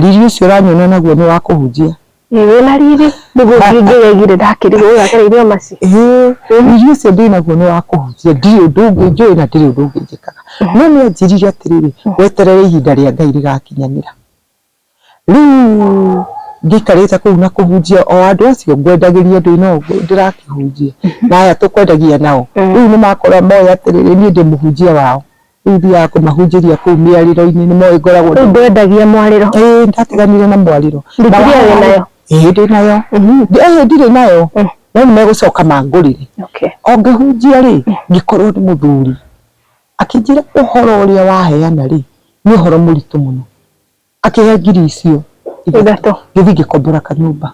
S1: Riri ũcio ũranyona naguo nĩ wa kũhunjia. Ĩĩ wĩna riri
S2: nĩguo ngĩngĩgegire ndakĩrigwo ũyũ agereire o maci. Ĩĩ riri ũcio
S1: ndĩ naguo nĩ wa kũhunjia ndirĩ ũndũ ũngĩ njũĩ na ndirĩ ũndũ ũngĩ njĩkaga. No nĩ anjĩrire atĩrĩrĩ, weterere ihinda rĩa Ngai rĩgakinyanĩra. Rĩu ngĩikarĩte kũu na kũhunjia o andũ acio ngwendagĩria ndĩ na ũguo ndĩrakĩhunjia na aya tũkwendagia nao rĩu nĩ makorwo moĩ atĩrĩrĩ niĩ ndĩ mũhunjia wao. Rĩu thiaga kũmahunjĩria kũu mĩarĩro-inĩ, nĩ moĩ ngoragwo Rĩu ndwendagia mwarĩro?
S2: Ĩĩ nĩ ndatiganire na
S1: mwarĩro. Bibilia wĩ nayo?
S2: Ĩĩ ndĩ nayo.
S1: Ĩĩ ndirĩ nayo, no nĩ megũcoka mangũrĩre. O ngĩhunjia rĩ, ngĩkorwo nĩ mũthuri akĩnjĩra ũhoro ũrĩa waheana rĩ, nĩ ũhoro mũritũ mũno. Akĩhe ngiri icio ithatũ gĩthiĩ ngĩkombora kanyũmba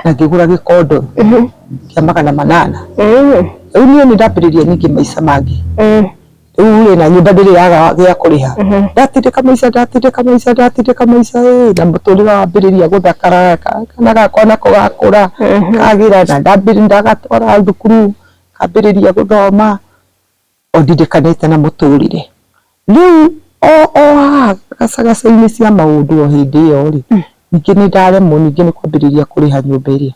S1: na ngĩgũra gĩkondo kĩa magana manana. Rĩu niĩ nĩ ndambĩrĩria ningĩ maica mangĩ. Rĩu rĩ na nyũmba ndĩrĩ yaga gĩa kũrĩha. Ndatindĩka maica ndatindĩka maica ndatindĩka maica ĩĩ na mũtũrĩre wambĩrĩria gũthakara, kana gakwa nako gakũra kagĩra na nĩ ndagatwara thukuru kambĩrĩria gũthoma. O ndindikanĩte na mũtũrĩre. Rĩu o o haha gacagaca-inĩ cia maũndũ o hĩndĩ ĩyo-rĩ, ningĩ nĩ ndaremwo ningĩ nĩ kwambĩrĩria kũrĩha nyũmba ĩrĩa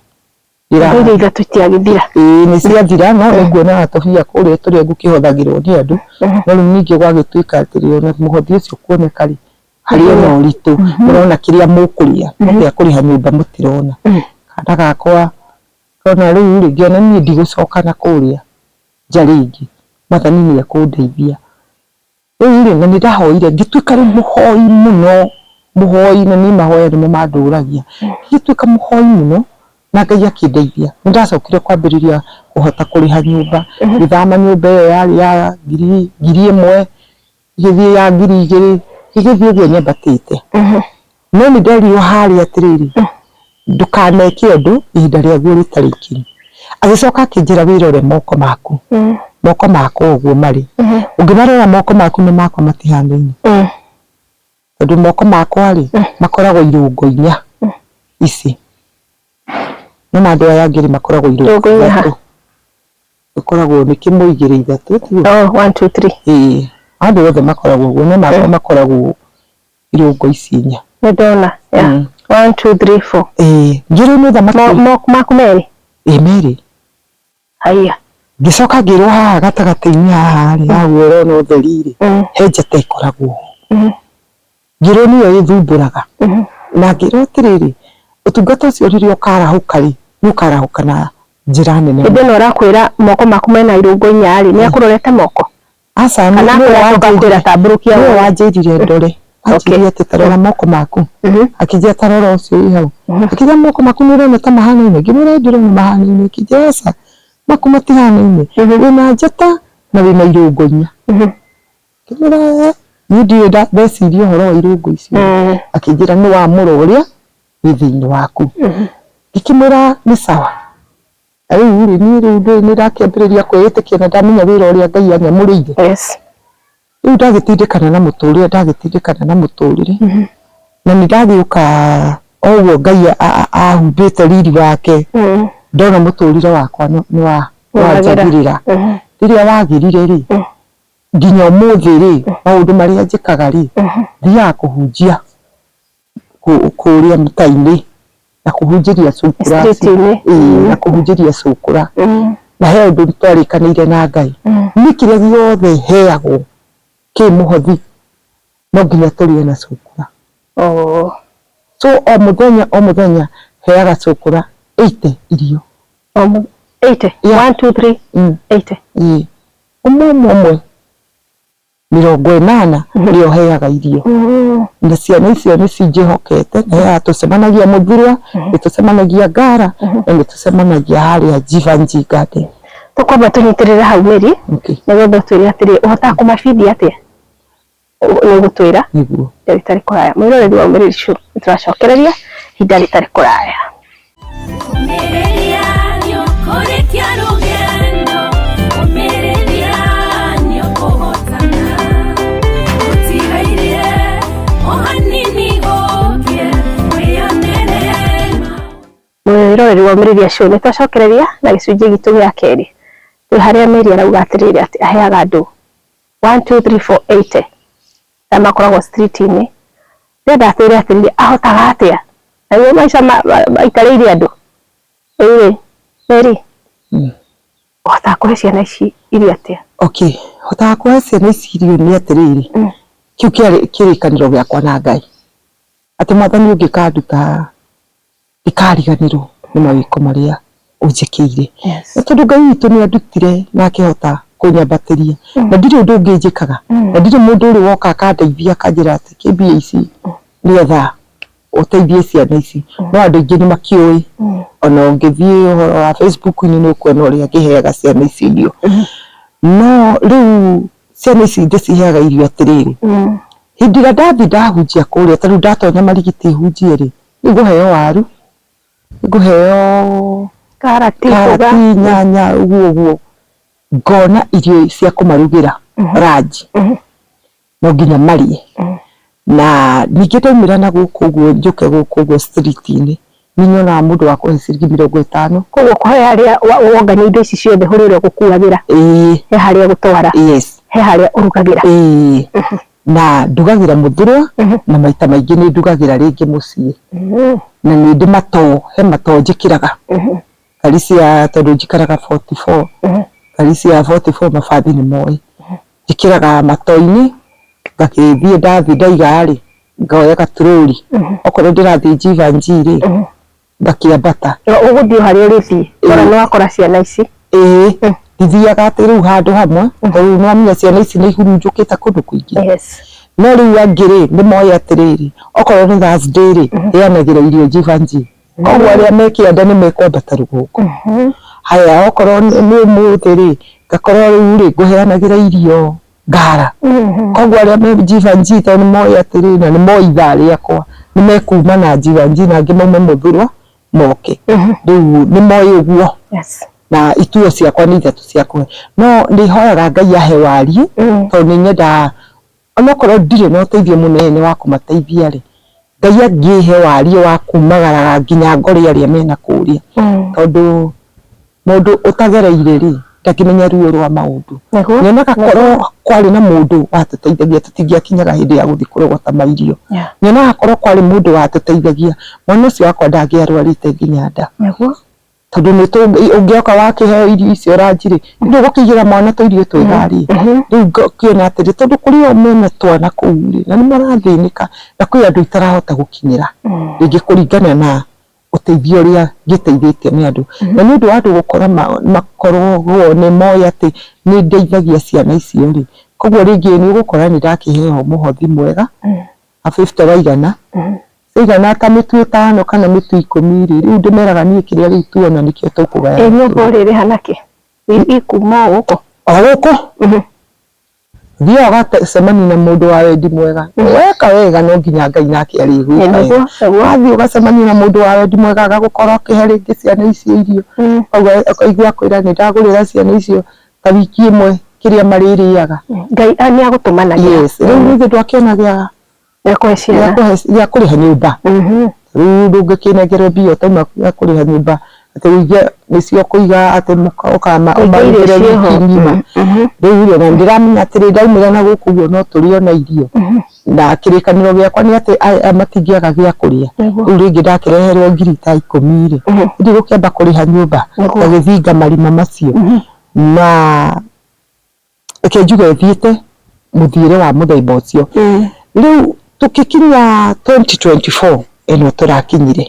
S1: Nyũmba iria
S2: ithatũ ciagĩthira. Ĩĩ nĩ ciathira
S1: no nĩ nguonaga tũbia kũrĩa tũrĩa ngũkĩhothagĩrwo nĩ andũ, no rĩu ningĩ gwagĩtuĩka atĩrĩ ona mũhothi ũcio kuoneka-rĩ, harĩ o na ũritũ. Mũrona kĩrĩa mũkũrĩa no gĩa kũrĩha nyũmba mũtirona. Kana gakwa, ngona rĩu-rĩ, ngĩona niĩ ndigũcoka na kũrĩa nja rĩngĩ, mwathani nĩ ekũndeithia. Rĩu rĩ, na nĩ ndahoire ngĩtuĩka rĩu mũhoi mũno, mũhoi na niĩ mahoya nĩmo mandũragia. Ngĩgĩtuĩka mũhoi mũno na Ngai akĩndeithia. Nĩ ndacokire kwambĩrĩria kũhota kũrĩha nyũmba, ngĩthama nyũmba ĩyo yarĩ ya ngiri ĩmwe, Igĩthiĩ ya ngiri igĩrĩ, igĩthiĩ ũguo nyambatĩte. No nĩ nderirwo harĩa atĩrĩrĩ, ndũkaneke ũndũ ihinda rĩaguo rĩtarĩ ikinyu. Agĩcoka akĩnjĩra wĩrore moko maku, moko makwa ũguo marĩ. Ũngĩmarora moko maku na makwa matihanaine. Tondũ moko makwa rĩ, makoragwo irũngo inya ici, no ma andũ aya angĩ rĩ, makoragwo irũngo ithatũ.
S2: Ĩkoragwo
S1: nĩ kĩmwe igĩrĩ
S2: ithatũ tiũũ?
S1: Oh, one, two,
S2: three.
S1: Ĩĩ, andũ othe makoragwo ũguo no makwa makoragwo irũngo ici inya. Nĩ ndona, yeah.
S2: Mm. One, two, three, four. Ĩĩ, ningĩ rĩu nĩ thamaki. Mo-
S1: mo- Maku merĩ?
S2: Ĩĩ merĩ. Haiya. Ngĩcoka
S1: ngĩrwo haha gatagatĩ-inĩ haha rĩ, haha ũrona ũtheri rĩ, Mm. he njata ĩkoragwo ho. Mm. Ngĩrwo nĩyo ĩthumbũraga na ngĩrwo atĩrĩrĩ, ũtungata ũcio rĩrĩa ũkarahũka rĩ, nĩ ũkarahũka na njĩra nene. Hĩndĩ ĩno ũrakwĩra
S2: moko maku mena irũngo inya rĩ, nĩ akũrorete moko? Aca, nĩwe wanjĩrire ndore, anjĩrire
S1: atĩ ta rora moko maku, akĩnjĩra ta rora ũcio wĩ hau, akĩnjĩra moko maku nĩ ũrona ta mahanaine? Ngĩmwĩra ĩĩ ndĩrona mahanaine, akĩnjĩra aca maku matihanaine, wĩna njata na wĩna irũngo inya. Ngĩmwĩra "Ee, niĩ ndiũĩ nda- ndeciria ũhoro wa irũngũ icio. Mm. Akĩnjĩra nĩ wa mũrũ ũrĩa wĩ thĩinĩ waku. Ngĩkĩmwĩra nĩ sawa. Na rĩu rĩ, niĩ rĩu ndũĩ nĩ ndakĩambĩrĩria kwĩĩtĩkia na ndamenya wĩra ũrĩa Ngai anyamũrĩire. Yes. Rĩu ndagĩtindĩkana na mũtũrĩre, ndagĩtindĩkana na mũtũrĩre. Na nĩ ndagĩũka o ũguo Ngai a- a- ahumbĩte riri wake, Mm. ndona mũtũrĩre wakwa nĩ nĩ wa- Nĩ wagĩra. wanjagĩrĩra. Mhm. Rĩrĩa wagĩrire rĩ, nginya ũmũthĩ rĩ, maũndũ marĩa njĩkaga rĩ, thiaga kũhunjia kũrĩa mĩta-inĩ na kũhunjĩria cũkũra, na kũhunjĩria cũkũra na he ũndũ twarĩkanĩire na Ngai, niĩ kĩrĩa gĩothe heyagwo kĩ mũhothi no nginya tũrĩe na cũkũra. So o mũthenya o mũthenya heyaga cũkũra eighty irio. Eighty?
S2: One, two, three, eighty? Ĩĩ. ũmwe ũmwe ũmwe mĩrongo ĩnana nĩyo heaga irio na ciana icio nĩ cinjĩhokete na heaga tũcemanagia mũthurwa nĩ tũcemanagia ngara na nĩ tũcemanagia harĩa njibanji ngate tũkwamba tũnyitĩrĩre hau mĩri okay. nĩgetha ũtwĩre atĩrĩ ũhotaga kũmabindi atĩa nĩ ũgũtwĩra nĩguo ihinda rĩtarĩ
S1: kũraya mwĩroreri
S2: wa umĩrĩri show nĩtũracokereria ihinda rĩtarĩ kũraya Ũmĩrĩria nĩ ũkũrĩkia rũgendo, ũmĩrĩria nĩ ũkũhotana. Ũtigaire o hanini ũũke, wĩyonere mwĩroreri wa umĩrĩria show nĩtũracokereria na gĩcunjĩ gitũ gĩa kerĩ twĩ harĩa meri arauga atĩrĩrĩ atĩ aheaga andũ one two three four eight na makoragwo street-inĩ rĩrĩa ndakwĩrire atĩrĩrĩ ahotaga atĩa na iwe maica maikarĩire andũ rĩrĩ rĩrĩ ũhotaga kũhe ciana ici irio atĩa okay hotaga
S1: kũhe ciana ici irio nĩ atĩrĩrĩ Mm. kĩu kĩarĩ kĩrĩkanĩro gĩakwa na ngai atĩ mwathani ũngĩkanduta ndikariganĩrwo nĩ mawĩko marĩa ũnjĩkĩire. Nĩ tondũ Ngai witũ nĩ andutire na akĩhota kũnyambatĩria. Na ndirĩ ũndũ ũngĩ njĩkaga. Na ndirĩ mũndũ ũrĩ woka akandeithia akanjĩra atĩ kĩ mbia ici rĩotha ũteithie ciana ici. No andũ aingĩ nĩ makĩũĩ. Ona ũngĩthiĩ ũhoro wa Facebook inĩ nĩ ũkuona ũrĩa ngĩheaga ciana ici irio. No rĩu ciana ici ndĩciheaga irio atĩrĩrĩ, hĩndĩ ĩrĩa ndathiĩ ndahunjia kũrĩa ta rĩu ndatonya Marigiti hunjie rĩ, Rĩu ngũheo waru, ngũheo karati, nyanya ũguo ũguo, ngona irio cia kũmarugĩra ranji no nginya marĩe. Na ningĩ ndaumĩra na gũkũ ũguo njũke gũkũ ũguo street -inĩ nĩ nyonaga mũndũ wa kũhe ciringi mĩrongo ĩtano. Koguo he harĩa
S2: wongania indo ici ciothe harĩa ũrĩgũkuagĩra, he harĩa ũgũtwara, he harĩa ũrugagĩra. Na ndugagĩra mũthurwa na maita maingĩ nĩ ndugagĩra rĩngĩ mũciĩ. Na nĩ ndĩ matoo, he matoo njĩkĩraga. Ngari cia, tondũ njikaraga forty four, ngari cia forty four mabathi nĩ moĩ. Njĩkĩraga matoo-inĩ, ngagĩthiĩ ndathiĩ ndaiga rĩ, ngoya gaturũri. Okorwo ndĩrathiĩ Jivanjii rĩ ngakĩambata Na ũgũthiĩ o harĩa ũrĩthiĩ wona nĩ wakora ciana ici ĩĩ Mm. ndithiaga atĩ rĩu handũ hamwe tondũ rĩu nĩwamenya ciana ici nĩ ihurunjũkĩte kũndũ kũingĩ yes no rĩu angĩ rĩ nĩ moĩ atĩrĩrĩ okorwo nĩ Thursday rĩ rĩanagĩra irio njibanji koguo arĩa me kĩanda nĩ mekwambata rũgongo haya okorwo nĩ nĩ ũmũthĩ rĩ ngakorwo rĩu rĩ ngũheanagĩra irio ngara Mhm. koguo arĩa me jivanji tondũ nĩ moĩ atĩrĩ na nĩ moĩ ithaa rĩakwa nĩ mekuma na jivanji na angĩ maume mũthurwa moke Mhm. rĩu nĩ moĩ ũguo Yes. na ituo ciakwa nĩ ithatũ ciakwa no nĩ hoyaga ngai ahe wariĩ Mm. tondũ nĩ nyendaga onokorwo ndirĩ na ũteithio mũnene wa kũmateithia rĩ ngai angĩhe wariĩ wa kumagaraga nginya ngore arĩa mena kũrĩa Mm. tondũ Mũndũ ũtagereire-rĩ, ndangĩmenya ruo rwa maũndũ. Nĩguo. Nĩ onaga korwo kwarĩ
S1: na mũndũ watũteithagia tũtingĩakinyaga hĩndĩ ya gũthiĩ kũrogota mairio. Yeah. Nĩ onaga korwo kwarĩ mũndũ watũteithagia, mwana ũcio wakwa ndangĩarwarĩte nginya nda. Nĩguo.
S2: Tondũ nĩ tũ,
S1: ũngĩoka wakĩheo irio icio ranji-rĩ, ndũgũkĩigĩra mwana tũirio twega arĩe? Mhm. Rĩu ngakĩona atĩrĩ, tondũ kũrĩ o mena twana kũu-rĩ, na nĩ marathĩnĩka, na kwĩ andũ itarahota gũkinyĩra. Rĩngĩ kũringana na ũteithio ũrĩa ngĩteithĩtio nĩ andũ. Na nĩ ũndũ wa andũ gũkora makoragwo nĩ moĩ atĩ nĩ ndeithagia ciana icio rĩ, kũguo rĩngĩ nĩ ũgũkora nĩ ndakĩheo mũhothi mwega wa bĩbute wa igana, ĩigana ta mĩtu ĩtano kana mĩtu ikũmi rĩ, rĩu ndĩmeraga niĩ kĩrĩa rĩu tuona nĩkĩo tũkũgayania. Ĩ nyũmba ũrĩrĩha nakĩ?
S2: Ĩ kuma o gũkũ? O gũkũ.
S1: Thiaga ũgacemania na mũndũ wa wendi mwega. Weka wega no nginya Ngai nake arĩgwĩka wega. Wathiĩ ũgacemania na mũndũ wa wendi mwega agagũkora ũkĩhe rĩngĩ ciana icio irio. Ũkaigua akwĩra nĩ ndagũrĩra ciana icio ta wiki ĩmwe kĩrĩa marĩrĩaga. Ngai nĩ
S2: agũtũmanagĩra. Yes. Rĩu nĩ ithuĩ
S1: twakĩona gĩa gĩa kũhe ciana gĩa kũrĩha nyũmba mhm. rĩu ndũngĩkĩnengerwo mbia ũtauma gĩa kũrĩha nyũmba atĩ ũige nĩcio kũiga atĩ ũkama ũmarugĩre wiki ng'ima mhm. rĩu rĩ na ndĩramenya atĩrĩ ndaumĩra na gũkũ guo no tũrĩo na irio mhm. na kĩrĩkanĩro gĩakwa nĩ atĩ aya matingĩaga gĩa kũrĩa rĩu rĩngĩ ndakĩreherwo ngiri ta ikũmi rĩ ndi gũkĩamba kũrĩha nyũmba ngagĩthinga marima macio na reke njuge thiĩte mũthiĩre wa mũthemba ũcio. Rĩu tũkĩkinya 2024 ĩno tũrakinyire,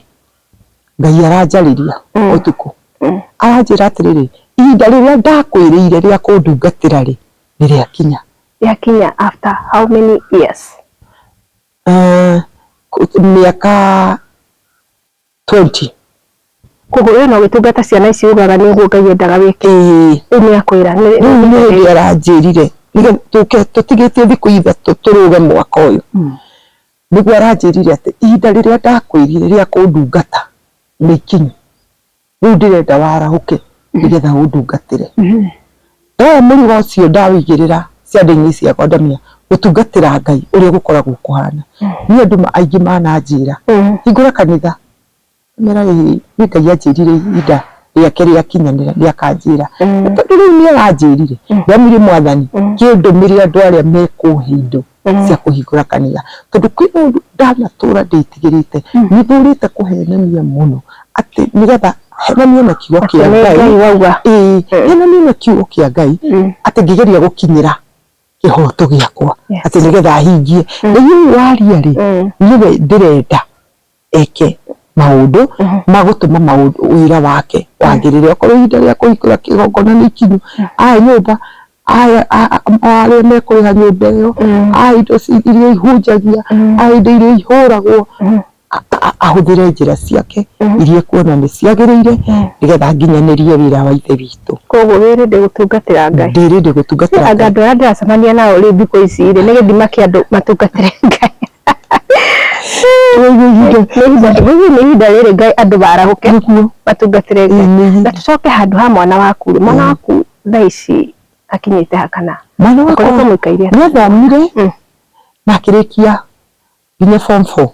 S1: Ngai aranjarĩria ũtukũ, aranjĩra atĩrĩrĩ, ihinda rĩrĩa ndakwĩrĩire rĩa kũndungatĩra-rĩ, nĩrĩakinya. Yakinya
S2: after how many years?
S1: Mĩaka 20
S2: koguo we no gĩtungata ciana ici ugaga nĩ ũguo ngai endaga wĩke ĩĩ rĩu nĩ akwĩra nĩ- rĩu nĩ hĩndĩ nĩ-
S1: aranjĩrire nĩgetha tũke tũtigĩtie thikũ ithatũ tũrũge mwaka ũyũ Mm. nĩguo aranjĩrire atĩ ihinda rĩrĩa ndakwĩrire rĩa kũndungata nĩ ikinyu rĩu ndĩrenda warahũke nĩgetha ũndungatĩre Mhm. Wee mũrigo ũcio ndawĩigĩrĩra ciande-inĩ ciakwa ndamenya gũtungatĩra Ngai ũrĩa gũkoragwo kũhana. Niĩ andũ ma- aingĩ mananjĩra hingũra kanitha mera rĩrĩ nĩ Ngai anjĩrire ihinda rĩake rĩakinyanĩra nĩakanjĩra. Na tondũ rĩu nĩaranjĩrire ndamire mwathani kĩndũmĩrĩra andũ arĩa mekũhe indo mm. cia kũhingũra kanitha tondũ kwĩ mũndũ ndanatũra ndĩtigĩrĩte mm. nĩ thurĩte kũhenania mũno atĩ nĩgetha henanie na kiugo kĩa ngai mm. henanie na kiugo kĩa ngai atĩ ngĩgeria gũkinyĩra kĩhoto gĩakwa atĩ nĩgetha hingie nĩguo waria rĩ niwe ndĩrenda eke maũndũ magũtũma maũndũ ũira wake wagĩrĩre okorwo ihinda rĩa kũhingũra kĩgongona nĩ ikinyu aya nyũmba aya a- a- arĩa mekũrĩha nyũmba ĩyo aya indo ci- iria ihunjagia aya indo iria ihũragwo a- a- ahũthĩre njĩra ciake iria ekuona nĩ ciagĩrĩire nĩgetha nginyanĩrie wĩra wa ithe witũ koguo wĩrĩ ndĩ
S2: gũtungatĩra ngai ndĩrĩndĩ gũtungatĩra anga Ngai.
S1: andå arä a ndäracemania nao
S2: rä thikå ici rä nä gä thima kä andå matungatä re ngai nĩihinda rĩrĩ ngai andũ marahũke matungatĩre ngai na tũcoke handũ ha mwana waku rĩ mwana waku thaa ici akinyĩte hakana mwana wakwa akoretwo
S1: mũikaire atĩa? nĩathomire Mm. na akĩrĩkia nginya form four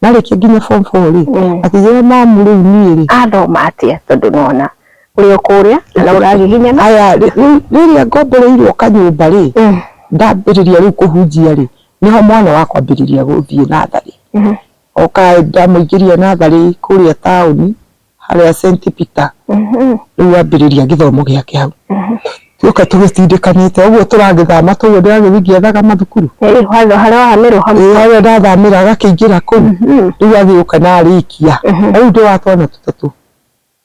S1: na arĩkia nginya form four rĩ Mm. akĩgĩa mamu rĩu niĩ rĩ athoma atĩa tondũ
S2: nona ũrĩ o kũrĩa na ũragiginyana aya rĩ- rĩ-
S1: rĩrĩa ngombereirwo kanyũmba rĩ Mm. ndambĩrĩria rĩu kũhunjia rĩ Nĩho mwana wa kwambĩrĩria gũthiĩ natharĩ. Oka ndamũingĩria natharĩ kũrĩa taũni, harĩa St Peter, rĩu ambĩrĩria gĩthomo gĩake hau. Tuoka tũgĩtindĩkanĩte ũguo tũragĩthama ta ũguo ndĩragĩthiĩ ngĩethaga mathukuru. Ĩĩ harĩa wathamĩrwo
S2: hau. Ĩĩ harĩa ndathamĩra
S1: agakĩingĩra kũu, rĩu agĩũka na arĩkia. Rĩu ndĩ wa twana tũtatũ,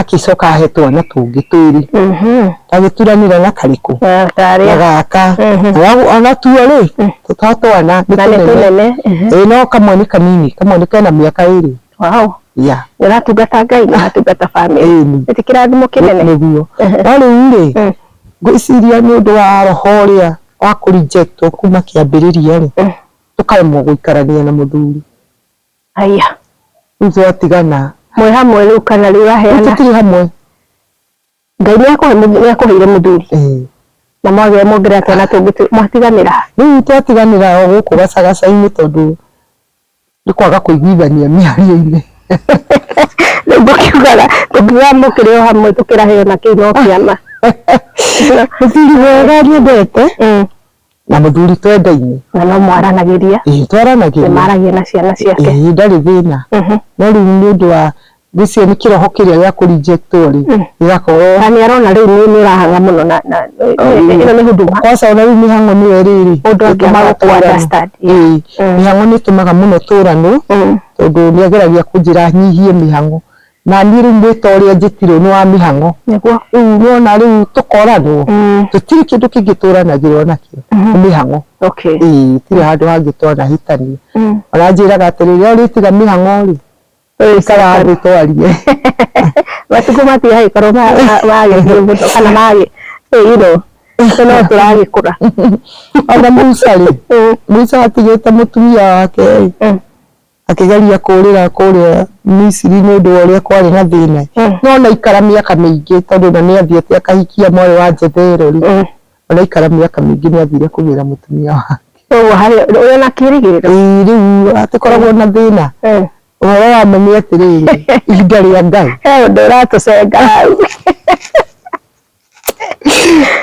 S1: Agĩcoka ahe twana tũngĩ twĩrĩ mhm. agĩturanĩra na karĩkũ na gaka mhm. ona tuo rĩ mm. to twana nĩ tũnene mhm. no kamwe nĩ kanini kamwe nĩ kena mĩaka ĩrĩ ũratungata
S2: ngai na atungata bamĩrĩ nĩ kĩrathimo kĩnene nĩguo no
S1: rĩu rĩ mm. ngwĩciria nĩ ũndũ wa roho ũrĩa wa kũrinjektwo kuma kĩambĩrĩria rĩ mm. tũkaremwo gũikarania na mũthuri Haya. Rĩu
S2: twatigana. Mwĩ hamwe rĩu kana rĩu aheana. Tũtirĩ hamwe. Ngai nĩ akũhe nĩ akũheire mũthuri. Eh. Na mwagĩa mwongerera twana tũngĩ mwatiganĩra. Rĩu twatiganĩra
S1: o gũkũ gacagaca-inĩ tondũ nĩ kwaga kũiguithania mĩario-inĩ.
S2: Rĩu ngũkiugaga tũkiuga mũkĩrĩ o hamwe tũkĩrahĩrwo na kĩu no kĩama.
S1: Mũthuri wega nyendete. Mm. na mũthuri twendaine na no mwaranagĩria
S2: ĩĩ twaranagĩria
S1: maragia na ciana
S2: ciake ĩĩ ndarĩ thĩna
S1: Mhm. no rĩu nĩ ũndũ wa gĩcio nĩ kĩroho kĩrĩa gĩa kũ reject rĩ Mm. gĩgakorwo na nĩ arona rĩu nĩ
S2: nĩ ũrahanga mũno na na ĩno nĩ huduma kwaca ona rĩu mĩhang'o nĩyo
S1: rĩrĩ Mũndũ angĩaga ĩtũmaga kũ tũranwo.
S2: understand. Ĩĩ, Mm. mĩhang'o
S1: nĩ ĩtũmaga mũno tũranwo Mm. tondũ nĩ ageragia kũnjĩra nyihie mĩhang'o Na niĩ rĩu mwĩta ũrĩa njĩtirwo nĩ wa mĩhang'o. Nĩguo. Rĩu nĩwona rĩu tũkoranwo, Mm. tũtirĩ kĩndũ kĩngĩ tũranagĩrwo nakĩo, nĩ mĩhang'o. Okay. Ĩĩ, itirĩ handũ hangĩ twanahĩtania. Mm. Ona anjĩraga atĩrĩ, rĩrĩa ũrĩtiga mĩhang'o-rĩ, ikara thĩ twarie.
S2: Matukũ macio hagĩkorwo ma- ma- magĩthiĩ mũno kana magĩ- eh, you know, tondũ no tũragĩkũra. Ona
S1: Musa-rĩ, Musa atigĩte mũtumia wake-rĩ, Mm. Akĩgeria kũũrĩra kũrĩa Misiri nĩ ũndũ wa ũrĩa kwarĩ na thĩna-ĩ, no onaikara mĩaka mĩingĩ tondũ ona nĩathiĩte akahikia mwarĩ wa Jethero-rĩ, onaikara mĩaka mĩingĩ nĩathire kũgĩra mũtumia wake. Kwoguo harĩ ũrĩ ona
S2: kĩĩrĩgĩrĩro? Ĩĩ, rĩu hatikoragwo
S1: na thĩna. Ũhoro wa ma nĩ atĩrĩrĩ, ihinda rĩa Ngai. He ũndũ ũratũcenga
S2: hau.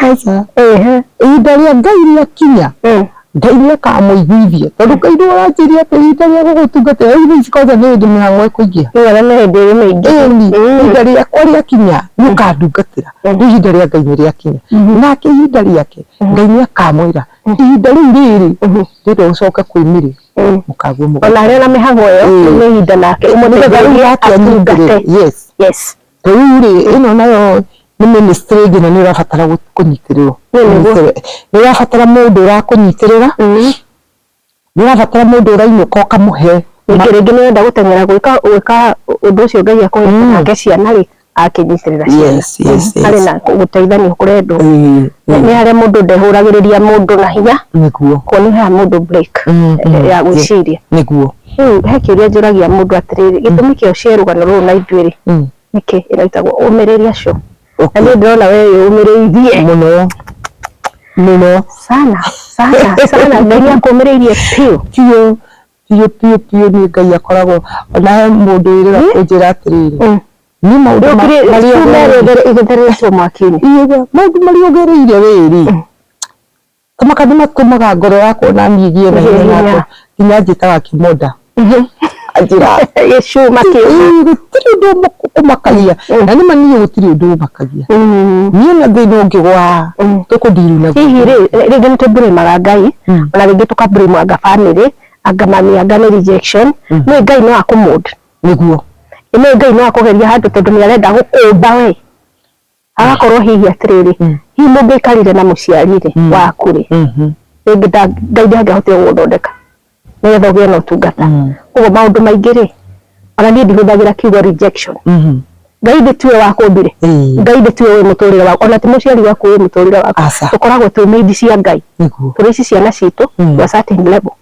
S2: Aca.
S1: Ehe. Ihinda rĩa Ngai rĩakinya, Eh. Ngai nĩ akamũiguithia. Tondũ Ngai nĩ aranjĩrire atĩ ihinda rĩa gũgũtungatĩra rĩu thaa ici kwanza nĩ hĩndĩ mĩhang'o ĩkũingĩha. Nĩ wega nĩ hĩndĩ ĩrĩ mĩingĩ.
S2: Ĩni, Mm. ihinda rĩakwa
S1: rĩakinya nĩ ũkandungatĩra. Mm. Rĩu ihinda rĩa Ngai nĩ rĩakinya. Mhm. Nake ihinda rĩake, Ngai nĩ akamwĩra, ihinda rĩu rĩrĩ, rĩrĩa ũcoka kwĩmĩrĩ, Mm. mũkaguo mũgate. Ona arĩ na mĩhang'o ĩyo, Mm.
S2: nĩ ihinda nake Nĩgetha rĩu ũmũteithĩrĩrie yake atungate.
S1: anyitĩrĩre. Yes. Yes.
S2: Ta rĩu rĩ,
S1: ĩno nayo nĩ ministry ĩngĩ na nĩ ũrabatara gũ- kũnyitĩrĩrwo. Nĩ nĩguo. Ũnyitĩrĩre- Nĩ ũrabatara mũndũ ũrakũnyitĩrĩra, nĩ ũrabatara mũndũ ũrainũka ũkamũhe Ningĩ rĩngĩ nĩ wenda
S2: gũteng'era gwĩka gwĩka ũndũ ũcio Ngai akũhete nake ciana rĩ, akĩnyitĩrĩra ciana. Yes, yes, yes. Harĩ na gũteithania kũrendwo. Ĩĩ, Nĩ nĩ harĩa mũndũ ndehũragĩrĩria mũndũ na hinya, nĩguo. kuo nĩ ũheaga mũndũ break Mm, mm, ya gwĩciria. Nĩguo. Rĩu
S1: he kĩũria
S2: njũragia mũndũ atĩrĩrĩ, gĩtũmi kĩa ũcĩe rũgano rũrũ na ithuĩrĩ Mm. nĩkĩ? Ĩno ĩtagwo ũmĩrĩria show. Na Okay. niĩ ndĩrona we wĩyũmĩrĩirie Mũno.
S1: Mũno. sana
S2: sana sana, Ngai nĩ akũmĩrĩirie biũ. Biũ. Biũ biũ
S1: biũ nĩ Ngai akoragwo. Ona he mũndũ wĩrĩga kũnjĩra atĩrĩrĩ. Mm. Nĩ maũndũ ma- Rĩũkire marĩa kiumia ũgereire. rĩothe
S2: igĩtheretwo mwaki-inĩ. Iye, Maũndũ marĩa
S1: ũgereire wĩrĩ. Kũmaka nĩmatũmaga ngoro yakwa ona niĩ ngĩe na hinya nakwa nginya anjĩtaga kĩmonda anjĩra gĩcuma
S2: kĩu "Ii, gũtirĩ ũndũ ũmũ-
S1: ũmakagia na nĩma niĩ gũtirĩ ũndũ ũmakagia niĩ na thĩna ũngĩgwa tũkũndiru na hihi rĩ rĩngĩ nĩ
S2: tũmbũrĩmaga ngai ona rĩngĩ tũkambũrĩmwa anga bamĩrĩ anga mami anga nĩ rejection nĩ ngai no akũmũnd nĩguo
S1: nĩ ngai no
S2: akũgeria handũ tondũ nĩ arenda gũkũmba we agakorwo hihi atiriri mm. hihi mungikarire na muciari-ri mm. waku-ri mm-hmm. ringi ngai ndangihotire guthondeka nigetha ugie na utungata mm. koguo maundu maingi-ri ona nie ndihuthagira kiugo rejection mm-hmm. ngai ndi tiwe wakumbire ngai ndi tiwe wi muturire waku ona ti muciari waku wi muturire waku tukoragwo twi made cia ngai turi ici ciana citu to a certain level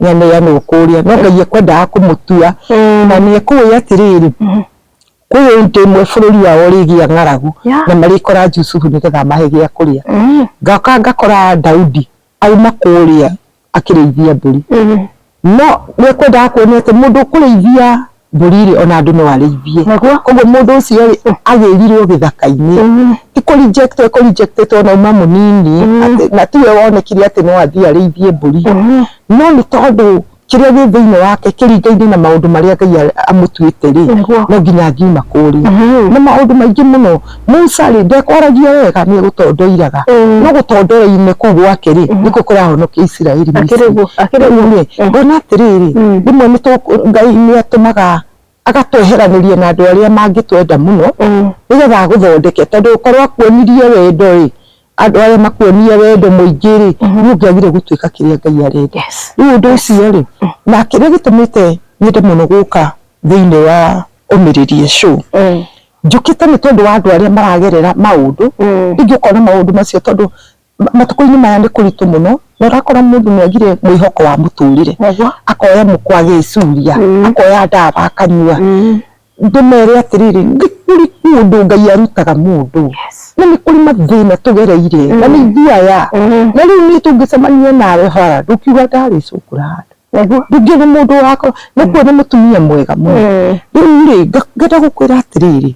S1: nĩaneanwo kũrĩa no Ngai ekwendaga kũmũtua na nĩekũĩ atĩrĩrĩ kwĩ indo imwe bũrũri wao ũrĩgĩa ng'aragu Yeah. na marĩkora Jusufu nĩgetha amahe gĩa kũrĩa Mm. ngoka ngakora Daudi auma kũrĩa akĩrĩithia mbũri no nĩekwendaga kuonio atĩ mũndũ ũkũrĩithia mbũri-rĩ, ona andũ no arĩithie. Naguo? Koguo mũndũ ũcio-rĩ, agĩrirwo gĩthaka-inĩ. Ti kũ reject ekũ reject tondũ auma mũnini, atĩ na tiwe wonekire atĩ no athiĩ arĩithie mbũri. No nĩ tondũ kĩrĩa gĩ thĩiniĩ wake kĩringaine na maũndũ marĩa Ngai amũtuĩte-rĩ, Nĩguo. no nginya angiuma kũrĩa. Nĩ maũndũ maingĩ mũno. Musa rĩ ndekwaragia wega nĩ egũtondoiraga mm. no gũtondorainĩ kũu gwake rĩ mm. nĩkũ kũrahonokia Isiraeli rĩu eh. ngona atĩrĩrĩ mm. rĩmwe Ngai nĩ atũmaga agatweheranĩria na andũ arĩa mangĩtwenda mũno nĩgetha agũthondeke tondũ ũkorwo akuonirie wendo rĩ andũ arĩa makuonie wendo mũingĩ rĩ mm-hmm. nĩ ũngĩagire gũtuĩka kĩrĩa Ngai arenda rĩu ũndũ ũcio rĩ mm. na kĩrĩa gĩtũmĩte nyende mũno gũka thĩinĩ wa ũmĩrĩrie show njũkĩte nĩ tondũ wa andũ arĩa maragerera maũndũ mm. rĩngĩ ũkona maũndũ macio tondũ matukũ-inĩ maya nĩ kũritũ mũno na ũrakora mũndũ nĩ agire mwĩhoko wa mũtũrĩre akoya mũkwa agĩcuria mm. akoya ndawa akanyua mm. ndĩmere atĩrĩrĩ nĩ kũrĩ mũndũ ngai arutaga mũndũ na nĩ kũrĩ mathĩna tũgereire na nĩ ithuaya na rĩu nĩ tũngĩcemania nawe hara ndũkiuga ndarĩcũkũra handũ Waigua? ningĩ nĩ mũndũ wakwa nakuo nĩ mũtumia mwega mũno Eh, rĩu rĩ nga- ngenda gũkwĩra atĩrĩrĩ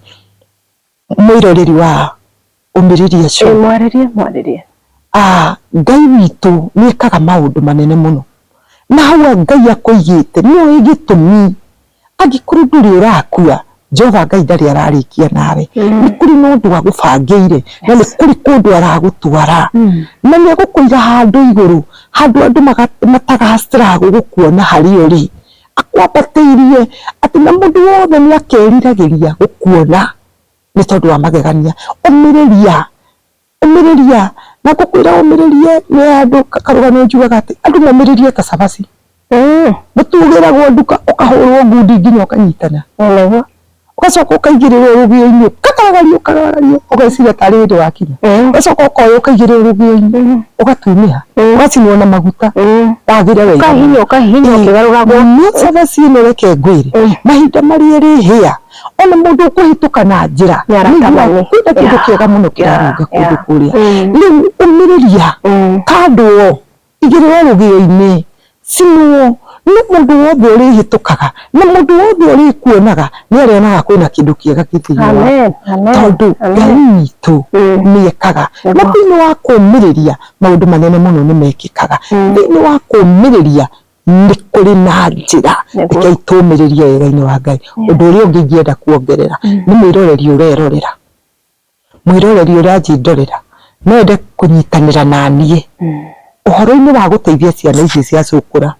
S1: mwĩroreri wa ũmĩrĩria eh, cio mwarĩrie mwarĩrie
S2: Ah,
S1: ngai witũ nĩkaga maũndũ manene mũno na hau ngai akũigĩte nĩoĩ gĩtũmi Angĩkorwo ndũrĩ ũrakua, Jehova Ngai ndarĩ ararĩkia nawe. Nĩ kũrĩ na ũndũ agũbangĩire, na nĩ kũrĩ kũndũ aragũtwara. Na nĩ egũkũiga handũ igũrũ, handũ andũ matagacĩraga gũgũkuona harĩ ũrĩ. Akwambatĩirie, atĩ na mũndũ wothe nĩ akeriragĩria gũkuona, nĩ tondũ wa magegania. Ũmĩrĩria. Ũmĩrĩria, na ngũkwĩra ũmĩrĩrie nĩ andũ karũgano njugaga atĩ andũ momĩrĩrie ta cabaci. Mũtu ũgĩragwo nduka ũkahũrwo ngundi nginya ũkanyitana. Ũgacoka ũkaigĩrĩrwo rũgĩo-inĩ ũkagaragario ũkagaragario ũgeciria tarĩ hĩndĩ wakinya. Ũgacoka ũkoywo ũkaigĩrĩrwo rũgĩo-inĩ ũgatunĩha ũgacinwo na maguta wathĩre wega. Ũkahihinywo ũkahihinywo
S2: ũkĩgarũragwo. Cabaci ĩno
S1: reke ngwĩre mahinda marĩa ĩrĩhĩa. ona mũndũ ũkũhĩtũka na njĩra nĩarakabania kwĩna kĩndũ kĩega mũno kĩrarũnga kũndũ kũrĩa rĩu ũmĩrĩria kandwo igĩrĩrwo rũgĩo-inĩ cinwo nĩ mũndũ wothe ũrĩhĩtũkaga na mũndũ wothe ũrĩkuonaga nĩarĩonaga kwĩna kĩndũ kĩega kĩ thĩiniĩ waku tondũ Ngai witũ nĩekaga na thĩiniĩ wa kũmĩrĩria maũndũ manene mũno nĩmekĩkaga thĩiniĩ wa kũmĩrĩria nĩ kũrĩ na njĩra Nĩguo. rekei tũmĩrĩrie wega-inĩ wa ngai ũndũ ũrĩa ũngĩ ingĩenda kuongerera nĩ mwĩroreri ũrerorera mwĩroreri ũranjindorera no ende kũnyitanĩra na niĩ ũhoro-inĩ wa gũteithia ciana ici cia cũkũra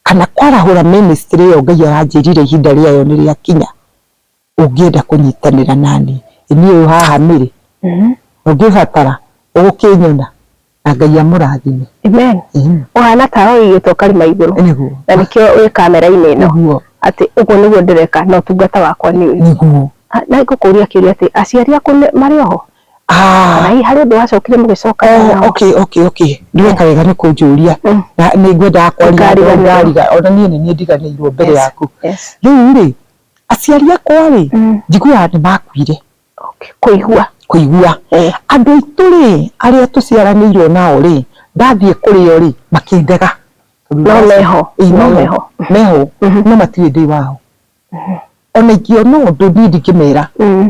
S1: kana kwarahũra ministry ĩyo ngai aranjĩrire ihinda rĩayo nĩ rĩakinya Ũngĩenda kũnyitanĩra naniĩ, niĩ ũyũ haha Mary, ũngĩbatara ũgũkĩnyona, na Ngai amũrathime. Amen.
S2: Ũhana ta ũigĩtwo karima igũrũ, na nĩkĩo wĩ kamera-inĩ ĩno, atĩ ũguo nĩguo ndĩreka na ũtungata wakwa nĩ ũyũ. Nĩguo. Nĩ ngũkũria kĩũria atĩ, aciari aku marĩ oho? Kana hihi harĩ ũndũ wacokire mũgĩcoka nao? Okay, okay, okay.
S1: Nĩ weka wega nĩ kũnjũria, nĩ ngwendaga kwarĩria andũ aya, ona niĩ nĩ niĩ ndiganĩirwo mbere yaku. Rĩu rĩ, Aciari akwa rĩ, njiguaga nĩ makuire. Okay, kũigua. Kũigua. Eh. Andũ aitũ rĩ, arĩa tũciaranĩirwo nao rĩ, ndathiĩ kũrĩ o rĩ, makĩndega. No
S2: meho. Ĩĩ no meho.
S1: Meho. Mhm. No matirĩ ndĩ wao. Mhm. Ona ingĩona ũndũ niĩ ndingĩmera. Mhm.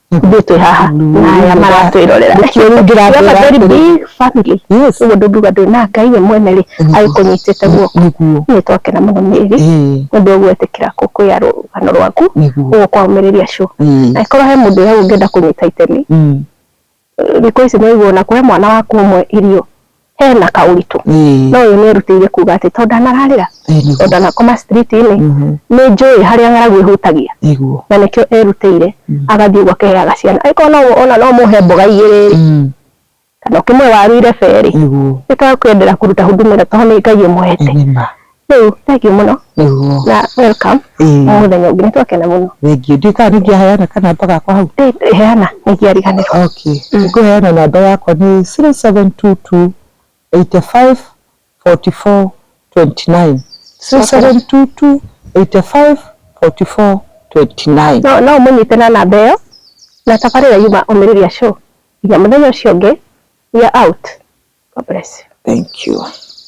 S2: ithuĩ twĩ haha na aya maratwĩrorera Nĩkĩo rĩu ndĩramwĩra Remember, very atĩrĩ. big family Yes. koguo ndũngiuga ndwĩ na ngai we mwene rĩ Nĩguo. agĩkũnyitĩte guoko nĩguo nĩ twakena mũno mĩri Ĩĩ, nĩ ũndũ wa gwĩtĩkĩra kũkwĩya rũgano rwaku nĩguo ũguo kwamĩrĩria cũ Ĩĩ. angĩkorwo he mũndũ ũrĩa ũngĩenda kũnyita itemi Mm. thikũ ici nĩ ũiguo na kũhe mwana waku ũmwe irio hena kaũritũ mm. no ũyũ nĩ erutĩire kuga atĩ tondũ ndanararĩra tondũ ndanakoma street-inĩ mm-hmm. nĩ njũĩ harĩa ng'aragu ĩhutagia na nĩkĩo erutĩire mm. agathiĩ ũguo akeheaga ciana angĩkorwo no ona no mũhe mboga igĩrĩ mm. kana ũkĩmwe waru irebe rĩ nĩ twakwendera kũruta huduma ĩrĩa tondũ nĩ Ngai ũmwete Rĩu thengiũ mũno Nĩguo. na welcome Ĩĩ. mũthenya ũngĩ nĩtwakena mũno Thengiũ. Ndiũĩ kana nĩngĩaheana
S1: kanamba gakwa hau. Ĩ- heana
S2: nĩngĩariganĩrwo Okay. Ngũheana
S1: namba yakwa nĩ 0722 85 44 29. 0722 85 44 29. no no ũmũnyite na
S2: namba ĩyo na tabarĩra yuma omĩrĩria show nginya mũthenya ũcio ũngĩ we are out God bless you Thank you.